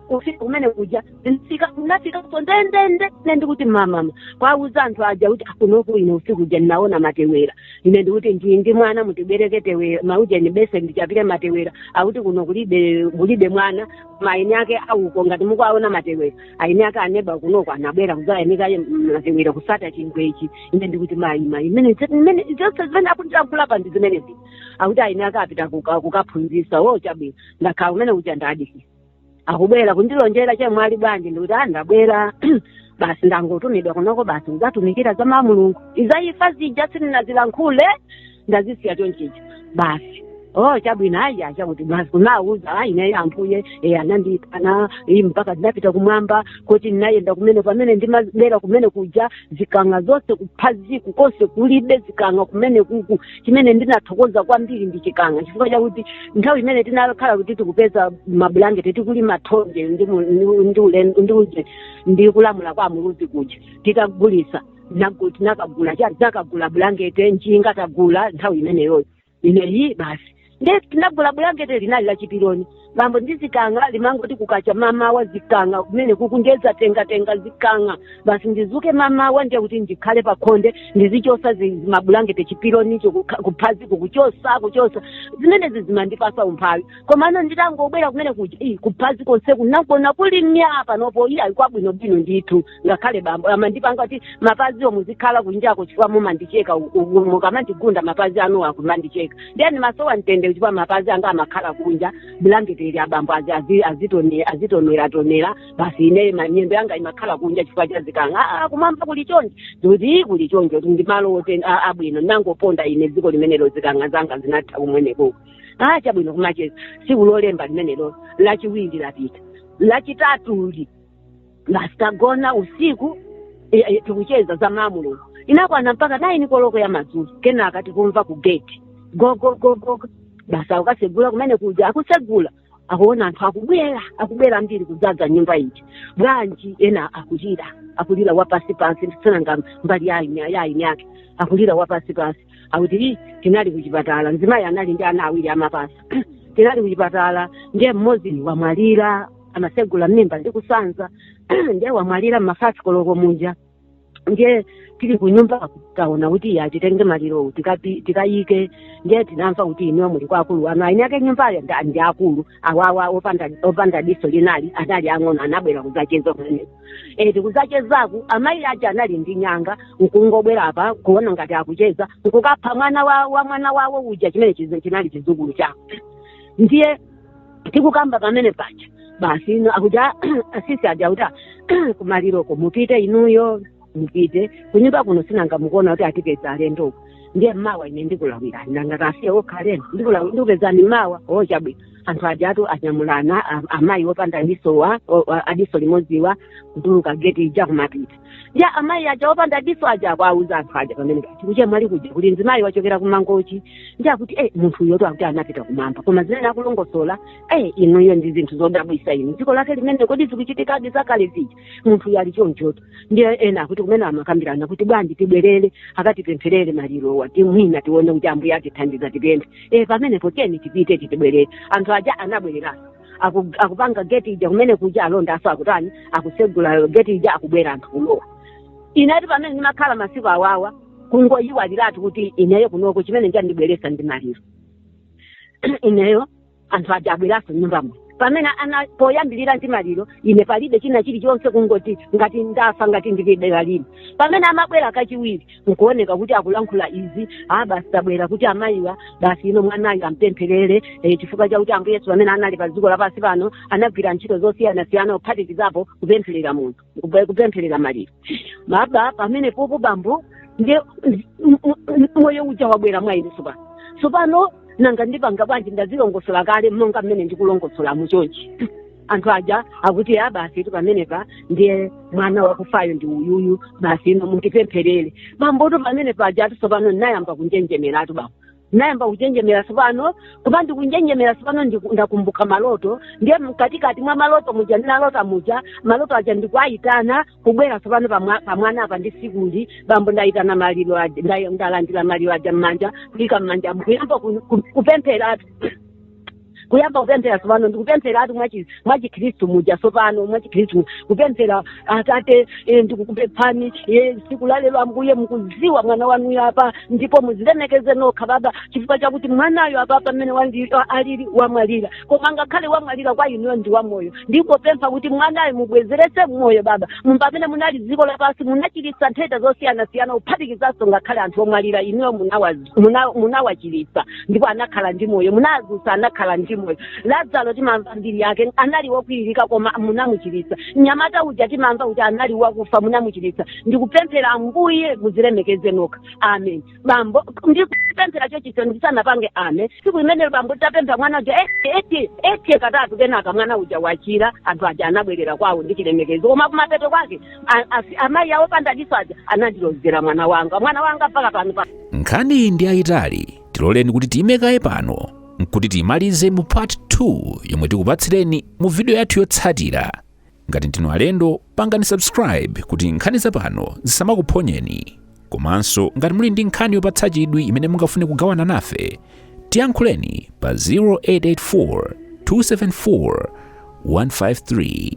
kufika kumene kuja ndinafika ndinafikapo ndendende ine ndikuti mamama kwauza anthu aja kuti akunoku ine usiku uja ndinaona matewera ine ndikuti ndi ndi mwana mutibwereke tewera maujeni beseni ndichapire matewera akuti kuno kulibe kulibe mwana koma aini ake auko ngati mukuaona matewera aini ake aneba kunoko anabwera kuzayanika matewera kusata chingwechi ine ndikuti mayi mayi imene imene zonse zimene akutilankhulapa ndi zimenezi akuti aini ake apita kuka- kukaphunzisa o chabwino ndakhala kumene kuja ndadikira akubwera kundilonjera chemwali bwanji ndikuti a ndabwera basi ndangotumidwa kunoko basi kuzatumikira za mawu a mulungu za imfa zija sindinazilankhule ndazisiya chonchicho basi oh chabwino ayi achakuti basi kuwawuza ayi ineyo ambuye e, anandipana iyi mpaka ndinapita kumwamba kuti ndinayenda kumene pamene ndimabwera kumene kuja zikang'a zonse kuphaziko konse kulibe zikang'a kumene kuku chimene ndinathokoza kwambiri ndi chikang'a chifukwa chakuti nthawi imene tinakhala kuti tikupeza mabulangeti tikulima thonje ndi mu- ndi- ndi ule- ndi uje ndi kulamula kwa a muluzi kuja titagulisa nagu- tinakagula cha- tinakagula bulangeti njinga tagula nthawi imeneyoyo ineyi basi ndiye tinagula bulangete linali la chipiloni bambo ndi zikang'a limangoti kukacha mamawa zikang'a kumene kuku ndiye zatengatenga zikang'a basi ndizuke mamawa ndiye kuti ndikhale pakhonde ndizichosa zi- zi- mabulangete chipilonicho kukha- kuphazi kukuchosa kuchosa zimenezi zimandipasa umphawi komano nditangobwera kumene kuja "Ih, kuphazi konseku ndakuona kuli mya panopo iyayi kwabwinobwino ndithu ngakhale bambo amandipanga kuti mapaziwo muzikhala kunjako chifukwa mumandicheka u- u- mukamandigunda mapazi anuwo akumandicheka ndiye amasowa mtendere chifukwa mapazi anga amakhala kunja bulangeti ili abambo azi- azi- azitone- azitoneratonera basi ine ma- miyendo yanga imakhala kunja chifukwa cha zikanga "Ah, kumwamba kuli chonje ndikuti kuli chonje kuti ndimalo ote- a- abwino ndinangoponda ine dziko limenelo zikanga zanga zinatha kumwenekoko ah chabwino kumacheza siku lolemba limenelo lachiwiri lapita lachitatu li tagona usiku i- i- tikucheza za mwa mulungu inakwana mpaka naini koloko ya madzulo kenaka tikumva ku gate gogogogo basi akukasegula kumene kuja akusegula akuona anthu akubwera akubwera ambiri kudzadza nyumba iji bwanji ena akulira akulira wapasi pasi sinanga mbali ya eni ya eni yake akulira wapasi pasi akuti "Ih, tinali kuchipatala mzimayi anali ndi ana awiri amapasa tinali kuchipatala ndiye mmodzi wamwalira amasegula m'mimba ndi kusanza ndiye wamwalira m'mafasi koloko muja ndiye tili kunyumba taona kuti iyayi titenge malirowo tikapi- tikayike ndiye tinamva kuti inuyo muli kwa akulu anu aeni ake nyumbayo nda- ndi akulu awawa opanda opanda diso linali anali ang'ono anabwera kudzacheza kumene e tikudzachezaku amayi aja anali ndi nyanga nkungobwera apa kuona ngati akucheza nkukapha mwana wa, wa mwana wawo uja chimene chizi- chinali chizukulu chako ndiye tikukamba pamene paja basi ino akuja asisi aja kuti kumaliroko mupite inuyo mupite kunyumba kuno sinanga mukuona kuti atipeza alendo uko ndiye mawa ine ndikulawirani nanga tasiye okha alendo ndikulawi- ndikupezani mawa o chabwino anthu ajatu anyamulana a- amayi opanda disowa o- a- adiso limodziwa kutuluka geti ija kumapita ndiye amayi aja opanda diso aja akuwauza anthu aja pamene kuti kwa chemwali kuja kuli mzimayi wachokera kumangochi ndiye akuti eh munthu uyotu akuti anapita kumwamba koma zimene akulongosola eh inuyo ndi zinthu zodabwisa inu dziko lake limene kodi zikuchitikadi zakale zija munthu uyo ali chonchotu ndiye ena akuti kumene amakambirana kuti bwanji tibwerere akatipempherere malirowa kuti mwina tione kuti ambuye atithandiza tipemphe eh pamenepo tiyeni tipite titibwerere anthu aja anabwereraso aku- akupanga geti ija kumene kuja alondaso akutani akusegula geti ija akubwera anthu kulowa inetu pamene ndimakhala masiku awawa kungoyiwaliratu kuti ineyo kunoko chimene chandibweresa ndi maliro ineyo anthu aja abwereraso nyumba muno pamene ana poyambirira ndi maliro ine palibe china chilichonse kungoti ngati ndafa ngati ndilibe lalini pamene amabwera kachiwiri nkuoneka kuti akulankhula izi a basi tabwera kuti amayiwa basi ino mwanayo ampempherere eh, chifukwa chakuti ambuye yesu pamene anali pa dziko lapansi pano anagwira ntchito zosiyanasiyana kuphatikizapo kupempherera munthu kupe- kupempherera maliro baba pamene popo bambo ndiye m- m- m- moyo uja wabwera mwa ine tsopano tsopano nanga ndipanga bwanji ndazilongosola kale monga mmene ndikulongosola muchonchi anthu aja akuti a basitu pamenepa ndiye mwana wakufayo ndi uyuyu basi inu mutipempherere bambotu pamene pajatu tsopano ndinayamba kunjenjemeratu bambo ndinayamba kunjenjemera tsopano koma ndikunjenjemera tsopano ndiku- ndakumbuka maloto ndiye mkatikati mwa maloto muja ndinalota muja maloto aja ndikuwayitana kubwera tsopano pamwa- pamwana apa ndisikuli bambo ndayitana maliro aja nda- ndalandira maliro aja m'manja kuyika m'manja nkuyamba kupempheratu kuyamba kupemphera tsopano ndikupempheratu mwachi- mwachikhristu muja tsopano mwachikhristu mu- kupemphera atate eh, ndikukupemphani eh, tsiku la lero ambuye mukudziwa mwana wanuyo apa ndipo muzilemekeze nokha baba chifukwa chakuti mwanayo apa pamene wandi- a- alili wamwalira koma ngakhale wamwalira kwa inuyo ndi wamoyo ndikupempha kuti mwanayo mubwezeretse moyo baba Mu- pamene munali dziko lapansi munachiritsa nthenda zosiyanasiyana kuphatikizanso ngakhale anthu omwalira inuyo munawazi muna- munawachiritsa ndipo anakhala ndi moyo munadzutsa anakhala ndi moyo lazaro timamva mbiri yake anali wokwiririka koma munamuchiritsa mnyamata uja timamva kuti anali wakufa munamuchiritsa ndikupemphera ambuye muzilemekeze nokha amen bambo ndikupemphera chonchicho ndisanapange amen siku limenelo bambo titapemphera mwana uja eti eti katatu kenaka mwana uja wachira anthu aja anabwerera kwawo ndi chilemekezo koma kumapeto kwake a- a- amayi awo opanda diso aja anandilozera mwana wanga mwana wanga mpaka pano pa- nkhaniyi ndi yayitali tiloleni kuti tiyime kaye pano nkuti tiyimalize mu part 2 yomwe tikupatsireni mu video yathu yotsatira ngati ndinu alendo pangani subscribe kuti nkhani zapano zisamakuphonyeni komanso ngati muli ndi nkhani yopatsa chidwi imene mungafune kugawana nafe tiyankhuleni pa 0884 274 153